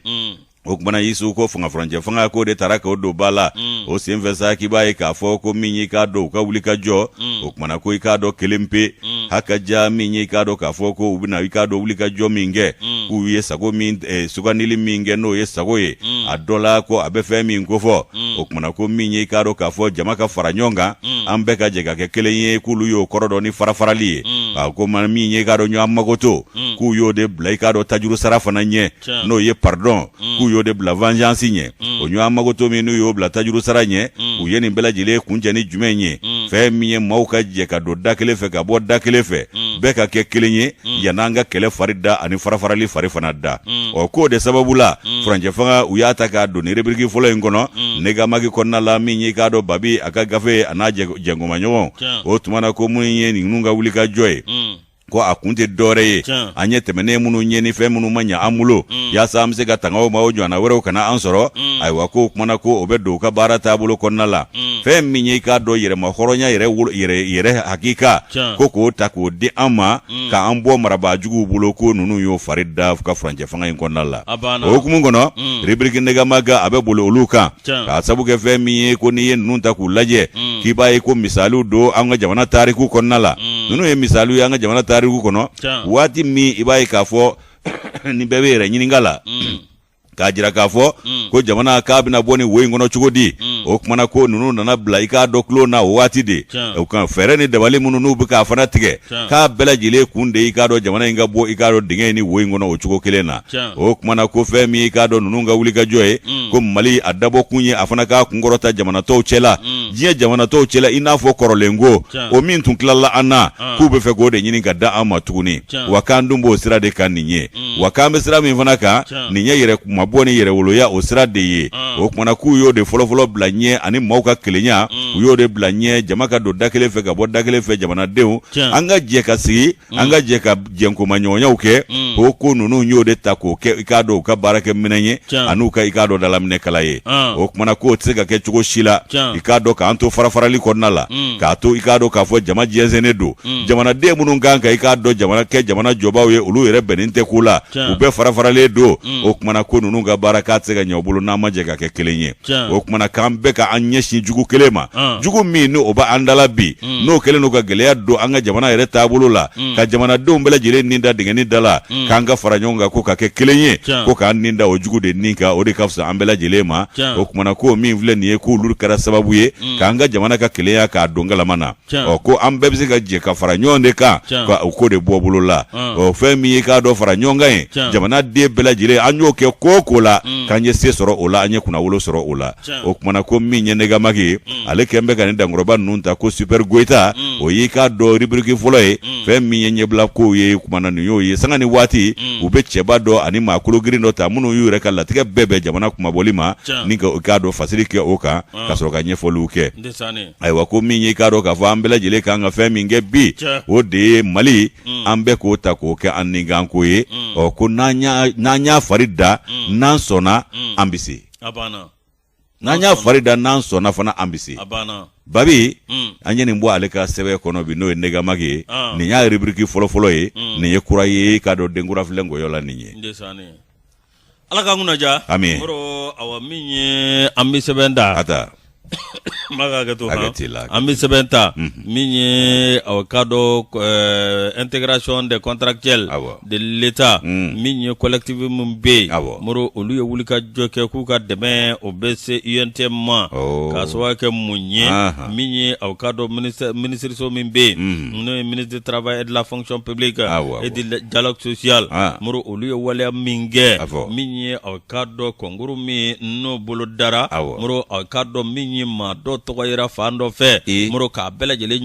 o kuma na Yusu ko fanga furancɛ fanga ko de tara k'o don ba la o senfɛ sa k'i b'a ye k'a fɔ ko min y'i k'a dɔn u ka wulikajɔ o kuma na ko i k'a dɔn kelen pe mm. hakaja min ye i k'a dɔn k'a fɔ ko u bɛna i k'a dɔn wulikajɔ min kɛ mm. k'u ye sago min eh, sugandili min kɛ n'o ye sago ye mm. a dɔ la ko a bɛ fɛn min kofɔ mm. o kumana ko min ye i k'a dɔn k'a fɔ jama ka fara ɲɔgɔn kan mm. an bɛɛ ka jɛ ka kɛ kelen ye k'olu y'o kɔrɔ dɔn ni farafarali ye mm. ko min ye i k'a dɔn ɲɔgɔn magoto mm. k'u y'o de bila i k'a dɔn tajuru sara fana ɲɛ n'o ye pardon mm. k'u y'o de bila vengeance ɲɛ mm. o ɲɔgɔn magoto min n'u y'o bila tajuru sara ɲɛ mm. u ye nin bɛɛ lajɛlen kuncɛ ni jumɛn ye mm. fɛn min ye maaw ka jɛ ka don da kelen fɛ ka bɔ da kelen fɛ mm. bɛɛ ka kɛ kelen ye mm. yann'an ka kɛlɛ fari da ani farafarali fari fana da mm. ɔ k'o de sababu la mm. furancɛ fanga u y'a ta k'a don ni rubrique fɔlɔ in kɔnɔ mm. negamagi kɔnɔna la min y'i k'a dɔn babi a ka gafe a n'a jɛnkomaɲɔgɔn o tuma na ko mun ye ninnu ka wulikajɔ ye mm. ko a kun tɛ dɔwɛrɛ ye an ye tɛmɛnen minnu ɲɛ ni fɛn minnu ma ɲɛ an bolo mm. yaasa an bɛ se ka tanga o ma o ɲɔgɔnna wɛrɛw kana an sɔrɔ mm. ayiwa ko o kumana ko o bɛ don u ka baara taabolo kɔnɔna la mm. fɛn min ye i k'a dɔn yɛrɛmahɔrɔnya yɛrɛ hakika ko k'o ta k'o di an ma k'an bɔ marabaa juguw bolo ko ninnu y'o fari da ka furancɛ fanga in kɔnɔna la o hukumu kɔnɔ rubrique negamagi a bɛ boli olu kan k'a sabu kɛ fɛn min ye ko n'i ye ninnu ta k'u lajɛ mm. k'i b'a ye ko misaliw don an ka jamana tariku kɔnɔna la mm. ninnu ye misaliw ye an ka jamana tariku kɔnɔ waati min i b'a ye k'a fɔ ni bɛɛ bɛ yɛrɛ ɲininka la mm. k'a jira k'a fɔ ko jamana k'a bɛna bɔ ni wo in kɔnɔ cogo di o kumana ko ninnu nana bila i k'a dɔn tulon na o waati de o ka fɛɛrɛ ni dabali minnu n'u bɛ k'a fana tigɛ k'a bɛɛ lajɛlen kun de i k'a dɔn jamana in ka bɔ i k'a dɔn dingɛ in ni wo in kɔnɔ o cogo kelen na o kumana ko fɛn min i k'a dɔn ninnu ka wulikajɔ ye mm. ko mali a dabɔ kun ye a fana k'a kunkɔrɔta jamana tɔw cɛla mm. diɲɛ jamana tɔw cɛla i n'a fɔ kɔrɔlen ko o min tun tilala an na ah. k'u bɛ fɛ k'o de ɲini k'a d'an ma tuguni wa k'an dun b'o sira de kan nin ye mm. wa k'an bɛ sira min fana kan nin ye yɛrɛ kunmabɔ ni yɛrɛwoloya o sira de ye mm. o kumana k'u y'o de fɔlɔfɔlɔ bila ɲɛ ani maaw ka kelenya mm. u y'o de bila ɲɛ jama ka don da kelen fɛ ka bɔ da kelen fɛ jamanadenw an ka jɛ ka sigi an ka jɛ ka jɛnkomaɲɔgɔnyaw kɛ o ko ninnu y'o de ta k'o kɛ i k'a dɔn u ka baarakɛminɛn ye an'u ka i k'a dɔn dalaminɛ kala ye o kumana k'o tɛ se ka kɛ cogo si la i k'a dɔn k'an to farafarali kɔnɔna la k'a to i k'a dɔn k'a fɔ jama jɛnsɛnnen don mm. jamanaden minnu kan ka i k'a dɔn jamana kɛ jamana jɔbaaw ye olu yɛrɛ bɛnnen tɛ ko la u bɛɛ farafaralen don mm. o kumana ko ninnu ka baara k'a tɛ se ka ɲɛ u bolo n'an ma jɛ ka kɛ kelen ye o kumana k'an bɛɛ ka an ɲɛsin jugu kelen ma ah. jugu min n'o bɛ an da la bi mm. n'o kɛlen don ka gɛlɛya don an ka jamana yɛrɛ taabolo la ka jamanadenw bɛɛ lajɛlen nin da dingɛni da la k'an ka fara ɲɔgɔn kan ko ka kɛ kelen ye ko k'an nin da o jugu de nin kan o de ka fisa an bɛɛ lajɛlen ma o kumana ko min filɛ nin ye k'olu kɛra sababu ye k'an ka jamana ka kelenya k'a don galama na ɔ ko an bɛɛ bɛ se ka jɛ ka fara ɲɔgɔn de kan ka o ko de bɔ bolo la ɔ fɛn min ye k'a dɔn fara ɲɔgɔn kan ye jamana den bɛɛ lajɛlen an y'o kɛ ko o ko la mm. k'an ye se sɔrɔ o la an ye kunnawolo sɔrɔ o la o tumana ko min ye negamaki ye mm. ale kɛlen bɛ ka nin dankɔrɔba ninnu ta ko super goyita mm. o y'i k'a dɔn ribiriki fɔlɔ ye fɛn min ye ɲɛbila kow ye kumana nin y'o ye sanga ni waati u bɛ cɛba dɔ ani maa kologirin dɔ ta minnu y'u yɛrɛ ka latigɛ bɛɛ bɛn jamana kunmabɔli ma ni k'a dɔn fasiri kɛ o kan ka sɔrɔ ka ɲɛfɔliw kɛ ayiwa ko min y'i k'a dɔn k'a fɔ an bɛɛ lajɛlen kan ka fɛn min kɛ bi o de ye mali mm. an bɛɛ k'o ta k'o kɛ an ninkanko ye mm. ɔ ko n'an y'a fari da mm. n'an sɔnna an bɛ se n'an y'a fari da n'an sɔnna fana an bɛ se babi an ye nin bɔ ale ka sɛbɛn kɔnɔ bi n'o ye negamaki ye ah. nin y'a ribiriki fɔlɔfɔlɔ ye nin ye kura ye k'a dɔn denkurafilen nkɔyɔ la nin ye Ala k'an kunna diya, amin, Moro, awa, min ye an bɛ sɛbɛn ta, a ta, n b'a ka hakɛ to, hakɛ t'i la, an bɛ sɛbɛn ta, unhun, min ye aw k'a dɔn ɛɛ intégration des contractuels, awɔ, de l'Etat un, min ye collectif min bɛ yen, awɔ, Moro olu ye wulikajɔ kɛ k'u ka dɛmɛ o bɛ se UNTM ma, awɔ, k'a sababuya kɛ mun ye, anhan, min ye aw k'a dɔn ministère minisiriso min bɛ yen, unhun, n'o ye ministre du travail et de la fonction publique, awɔ, awɔ, et du dialogue social, an. olu ye waleya min kɛ min ye aw k'a dɔn kɔnkuru min n'o bolo dara Moro aw k'a dɔn min ye maa dɔ tɔgɔ yera fan dɔ fɛ Moro k'a bɛɛ lajɛlen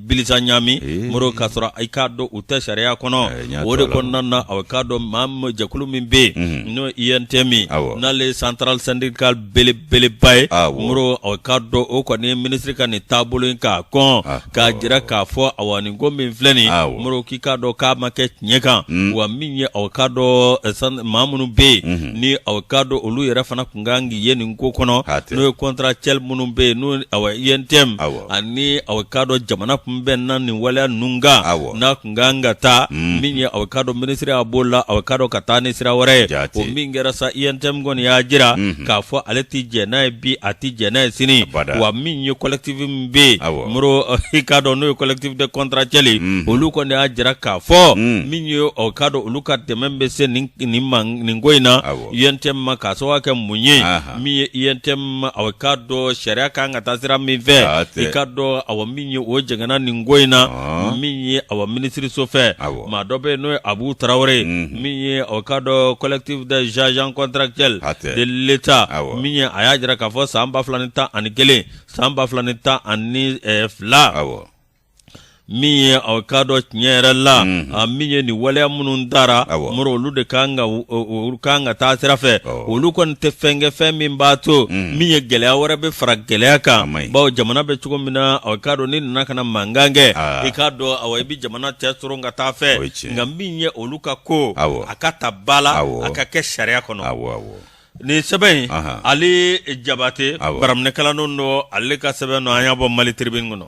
bilisa ɲami Moro k'a sɔrɔ i k'a dɔn u tɛ sariya kɔnɔ o de kɔnɔna na aw k'a dɔn maa jɛkulu min bɛ yen n'o ye UNTM n'ale centrale syndicale bele beleba ye Moro a k'a dɔn o kɔni minisiri ka nin taabolo in k'a kɔn k'a jira k'a fɔ awa nin ko min filɛ nin Moro k'i k'a dɔn k'a ma kɛ tiɲɛ kan wa min ye aw k'a dɔn maa minnu bɛ yen ni aw k'a dɔn olu yɛrɛ fana tun kan ka ye nin ko kɔnɔ n'o ye contractuel minnu bɛ yen n'o UNTM ani aw k'a dɔn jamana tun bɛ na nin waleya ninnu kan n kan ka taa mm. min ye aw k'a dɔn minisiri y'a b'o la aw k'a dɔn ka taa ni sira wɛrɛ ye o min kɛra sa UNTM kɔni y'a jira mm-hmm. k'a fɔ ale tɛ jɛn n'a ye bi a tɛ jɛn n'a ye sini wa min ye collectif min bɛ yen Moro i k'a dɔn n'o ye collectif des contractuels mm-hmm. olu kɔni y'a jira k'a fɔ mm. min ye aw k'a dɔn olu ka dɛmɛ bɛ se nin ko in na UNTM ma k'a sababu kɛ mun ye min ye UNTM aw k'a dɔn sariya kan ka taa sira min fɛ i k'a dɔn awa min ye o jɛngɛnna nin ko in na min ye a minisiriso fɛ maa dɔ bɛ n'o ye Abu Tarawele ye mhm. min ye aw k'a dɔn collectif des agents contractuels de l'Etat min ye a y'a jira k'a fɔ san ba fila ni tan ani kelen san ba fila ni tan ani fila min ye aw k'a dɔn tiɲɛ yɛrɛ la mhm. a min ye nin waleya minnu dara mori olu de kan ka olu kan ka taa sira fɛ olu kɔni tɛ fɛn kɛ fɛn min b'a to mhm. min ye gɛlɛya wɛrɛ bɛ fara gɛlɛya kan bawo jamana bɛ cogo min na aw k'a dɔn ni nana ka na mankan kɛ ah. i k'a dɔn aw i bɛ jamana cɛ soron ka taa fɛ nka min ye olu ka ko a ka ta ba la a ka kɛ sariya kɔnɔ Nin sɛbɛn in ale jabate baraminɛkala don ale ka sɛbɛn don an y'a bɔ Mali Tribune kɔnɔ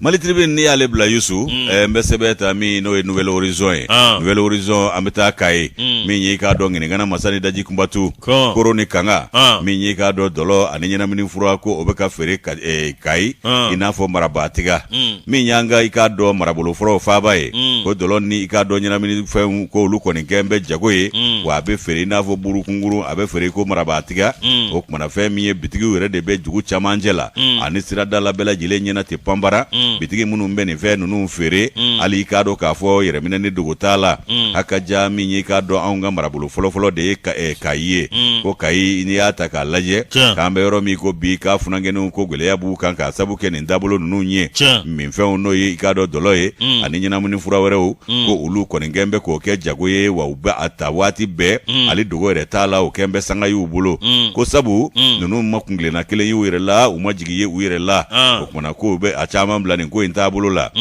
Mali Tribune n'i y'ale bila Yusu n bɛ sɛbɛn ta min n'o ye Nouvel Horizon ye Nouvel Horizon an bɛ taa Kayi min y'i k'a dɔn ŋiniŋana masa ni daji kunbatu koro ni kanga min y'i k'a dɔn dɔlɔ ani ɲɛnamini fura ko o bɛ ka feere Kayi i n'a fɔ marabaatiga min y'an ka i k'a dɔn marabolo fɔlɔ faaba ye mm. ko dɔlɔ ni i k'a dɔn ɲɛnamini fɛnw ko olu kɔni kɛn bɛ jago ye mm. wa a bɛ feere i n'a fɔ burukungurun a bɛ feere ko marabaatiga mm. o kumana fɛn min ye bitigiw yɛrɛ de bɛ dugu camancɛ la ani sirada la bɛɛ lajɛlen ɲɛna ten panbara bitigi minnu bɛ nin fɛn ninnu feere hali i k'a dɔn k'a fɔ yɛrɛminɛ ni dogo t'a la a ka ja min ye k'a dɔn anw ka marabolo fɔlɔfɔlɔ de ye eh, kayi ye ko kayi n'i y'a ta k'a lajɛ k'an bɛ yɔrɔ min ko bi k'a funankɛninw ko gɛlɛya b'u kan k'a sabu kɛ nin dabolo ninnu ye minfɛnw n'o ye i k'a dɔn dɔlɔ ye mm. ani ɲɛnamini fura wɛrɛw mm. ko olu kɔni kɛn bɛ k'o kɛ jago ye wa u bɛ a ta waati bɛɛ mm. hali dogo yɛrɛ t'a la o kɛn bɛ sanga y'u bolo ko sabu ninnu ma kuntilenna kelen y'u yɛrɛ la u ma jigi ye u yɛrɛ la ah. o kumana k'o bɛ a caman bila nin ko in taabolo la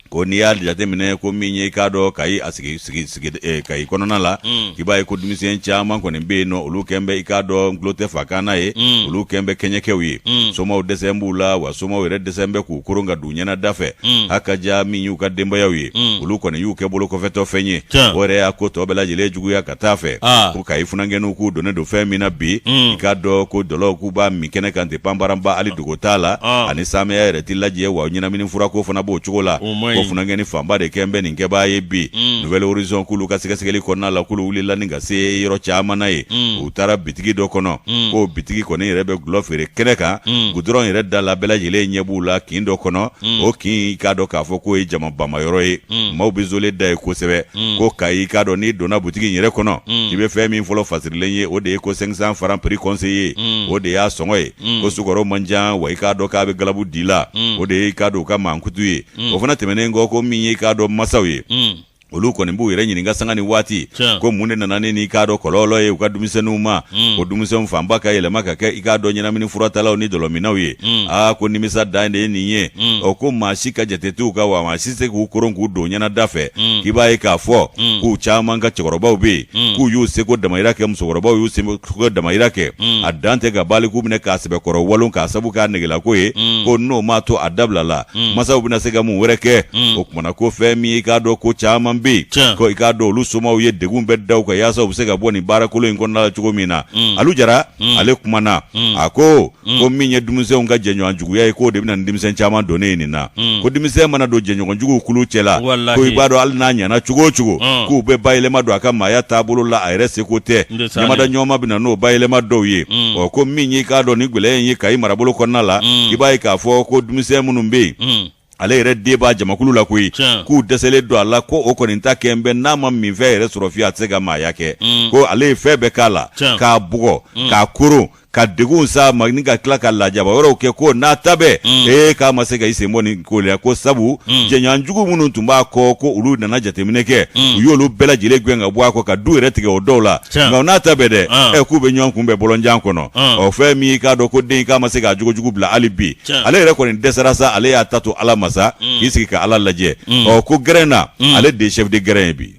ko n'i y'a jateminɛ ko min ye i k'a dɔn kayi a sigi sigi sigi eh, kayi kɔnɔna la mm. i b'a ye ko denmisɛn caman kɔni bɛ yen nɔ olu kɛn bɛ i k'a dɔn n kulo tɛ fa kan na ye mm. olu kɛn bɛ kɛɲɛkɛw ye mm. somaw dɛsɛn b'u la wa somaw yɛrɛ dɛsɛn bɛ k'u koron ka don ɲɛna da fɛ a ka ja min y'u ka denbayaw ye olu kɔni y'u kɛ bolo kɔfɛtɔ fɛn ye o yɛrɛ y'a ko tɔ bɛɛ lajɛlen juguya ka taa a fɛ ah. ko kayi funankɛninw k'u donnen don fɛn min na bi mm. i k'a dɔn ko dɔlɔw k'u b'a min kɛnɛ kan ten panbaranba hali dogo t'a la ah. ani saamɛya yɛrɛ tɛ lajɛ wa ɲɛnamini furako fana b'o cogo la ko funankɛni fanba de kɛn bɛ nin kɛbaa ye bi mm. nouvel horizon k'olu ka sɛgɛsɛgɛli kɔnɔna la k'olu wulila ni ka se yɔrɔ caman na ye mm. u taara bitigi dɔ kɔnɔ k'o bitigi kɔni yɛrɛ bɛ gulɔ feere kɛnɛ kan gudɔrɔn yɛrɛ da la bɛɛ lajɛlen ɲɛ b'u la kin dɔ kɔnɔ o kin i k'a dɔn k'a fɔ k'o ye jama bamayɔrɔ ye mm. maaw bɛ zole da ye kosɛbɛ mm. ko kayi i k'a dɔn n'i donna butigi in yɛrɛ kɔnɔ mm. i bɛ fɛn min fɔlɔ fasirilen ye o de ye ko cinq cents francs prix conseillé mm. o de y'a sɔngɔ ye mm. ko sukɔrɔ man jan wa i k'a dɔn k'a bɛ galabu di la mm. o de ye i k'a dɔn u ka mankutu ye mm. o fana tɛmɛnen kɔ ko min ye i k'a dɔn masaw ye mm. olu kɔni b'u yɛrɛ ɲininka sanga ni waati Tiɲɛ. ko mun de nana ni nin i k'a dɔn kɔlɔlɔ ye u ka denmisɛnninw ma Mm. o denmisɛnw fanba ka yɛlɛma ka kɛ i k'a dɔn ɲɛnamini furatalaw ni dɔlɔminnaw ye Mm. aa ko nimisa dan de ye nin ye Mm. ɔ ko maa si ka jate t'u kan wa maa si se k'u koron k'u don ɲɛnada fɛ Mm. k'i b'a ye k'a fɔ Mm. k'u caman ka cɛkɔrɔbaw bɛ yen Mm. k'u y'u seko damayira kɛ musokɔrɔbaw y'u seko damayira kɛ Mm. a dan tɛ ka baliku minɛ k'a sɛbɛkɔrɔ walon k'a sabu k'a negelako ye Mm. ko n'o m'a to a dabila la mm. masaw bɛna se ka mun wɛrɛ kɛ mm. o kumana ko fɛn min i k'a dɔn ko caman bɛ yen ko i k'a dɔn olu somaw ye degun bɛɛ da u kan yaasa u bɛ se ka bɔ nin baarakolon in kɔnɔna la cogo min na mm. alu jara mm. ale kumana mm. a ko mm. ko min ye denmisɛnw ka jɛɲɔgɔn juguya ye k'o de bɛ na ni denmisɛn caman donni ye nin na mm. ko denmisɛn mana don jɛɲɔgɔn juguw kulu cɛ la ko i b'a dɔn hali n'a ɲɛna cogo o cogo mm. k'u bɛ bayɛlɛma don a ka maaya taabolo la a yɛrɛ seko tɛ ɲamada ɲɔgɔnma bɛ na n'o bayɛlɛma dɔw ye mm. ɔ ko min y'i k'a dɔn nin gɛlɛya in ye kayi marabolo kɔnɔna la mm. i b'a ye k'a fɔ ko denmisɛn minnu bɛ yen mm. ale yɛrɛ den b'a jamakulu la koyi k'u dɛsɛlen don a la ko o kɔni ta kɛn bɛ n'a ma minfɛn yɛrɛ sɔrɔ fiye a tɛ se ka maaya kɛ ko ale ye fɛn bɛɛ k'a la k'a bugɔ k'a koron k'a degun sa ma ni ka tila ka lajaba wɛrɛw kɛ ko n'a ta bɛɛ mm. ee k'a ma se ka i sen bɔ nin ko la ko sabu mm. jɛɲɔgɔnjugu minnu tun b'a kɔ ko olu nana jateminɛ kɛ mm. u y'olu bɛɛ lajɛlen gɛn ka bɔ a kɔ ka du yɛrɛ tigɛ o dɔw la nka n'a ta bɛɛ dɛ ah. ɛ k'u bɛ ɲɔgɔn kunbɛn bɔlɔnjan kɔnɔ ah. ɔ fɛn min k'a dɔn ko den k'a ma se k'a jogojugu bila hali bi ale yɛrɛ kɔni dɛsɛra sa ale y'a ta to ala ma sa k'i sigi ka ala lajɛ ɔ ko gɛrɛn na ale de ye chef de gɛrɛn ye bi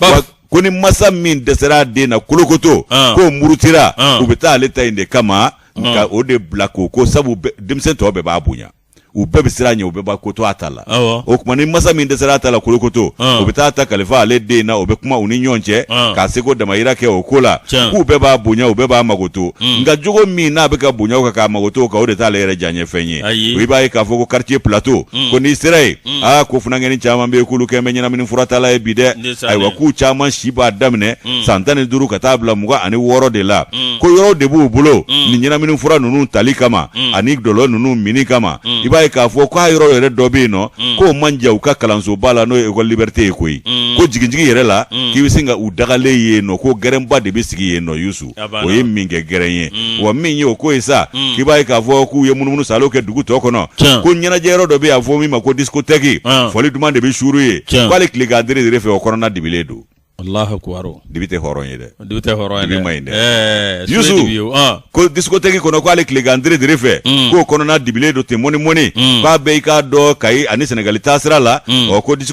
Ba- ko ni masa min dɛsɛra a den na kolokoto Ah. k'o murutira Ah. u bɛ taa ale ta in de kama nka o de bila k'o ko sabu bɛ- denmisɛn tɔ bɛɛ b'a bonya u bɛɛ bɛ siran a ɲɛ u bɛɛ b'a ko to a ta la Awɔ. o tuma ni masa min dɛsɛra a ta la kolokoto Ah. u bɛ taa a ta kalifa ale den na o bɛ kuma u ni ɲɔgɔn cɛ Ah. k'a seko damayira kɛ o ko la Tiɲɛ. k'u bɛɛ b'a bonya u bɛɛ b'a makoto nka jogo min n'a bɛ k'a bonya o kan k'a makoto o kan o de t'ale yɛrɛ diyanyefɛn ye Ayi. o i b'a ye k'a fɔ ko quartier plateau ko n'i sera yen Mm. aa ah, ko funankɛni caman bɛ yen k'olu kɛn bɛ ɲɛnamini furatala ye bi dɛ ayiwa k'u caman si b'a daminɛ mm. san tan ni duuru ka taa bila mugan ani wɔɔrɔ de la mm. ko yɔrɔw de b'u bolo nin ɲɛnamini fura ninnu tali kama ani dɔlɔ ninnu minni kama i b'a ye k'a fɔ k'a yɔrɔ yɛrɛ dɔ bɛ yen nɔ k'o man jan u ka kalansoba la n'o ye école liberté ye koyi ko jiginjigin yɛrɛ la k'i bɛ se ka u dagalen ye yen nɔ ko gɛrɛnba de bɛ sigi yen nɔ yusu A banna. o ye min kɛ gɛrɛn ye wa min ye o ko ye sa k'i b'a ye k'a fɔ k'u ye munumunu saalo kɛ dugu tɔ kɔnɔ Tiɲɛ. ko ɲɛnajɛ yɔrɔ dɔ bɛ yen a fɔ min ma ko diskotɛki Ah. fɔli duman de bɛ suuru yen Tiɲɛ. ko hali tilegan deredere fɛ o kɔnɔna dibilen don alahu akubaru dibi tɛ hɔrɔn ye dɛ dibi tɛ hɔrɔn ye Dibi man ɲi dɛ. ɛɛ Yusu. sule dibi ye o, ah. ko diskotɛki kɔnɔ ko hali tilegan deredere fɛ k'o kɔnɔna dibilen don ten mɔnimɔni k'a bɛ i k'a dɔn kayi ani sɛnɛgali taasira la ɔ ko disko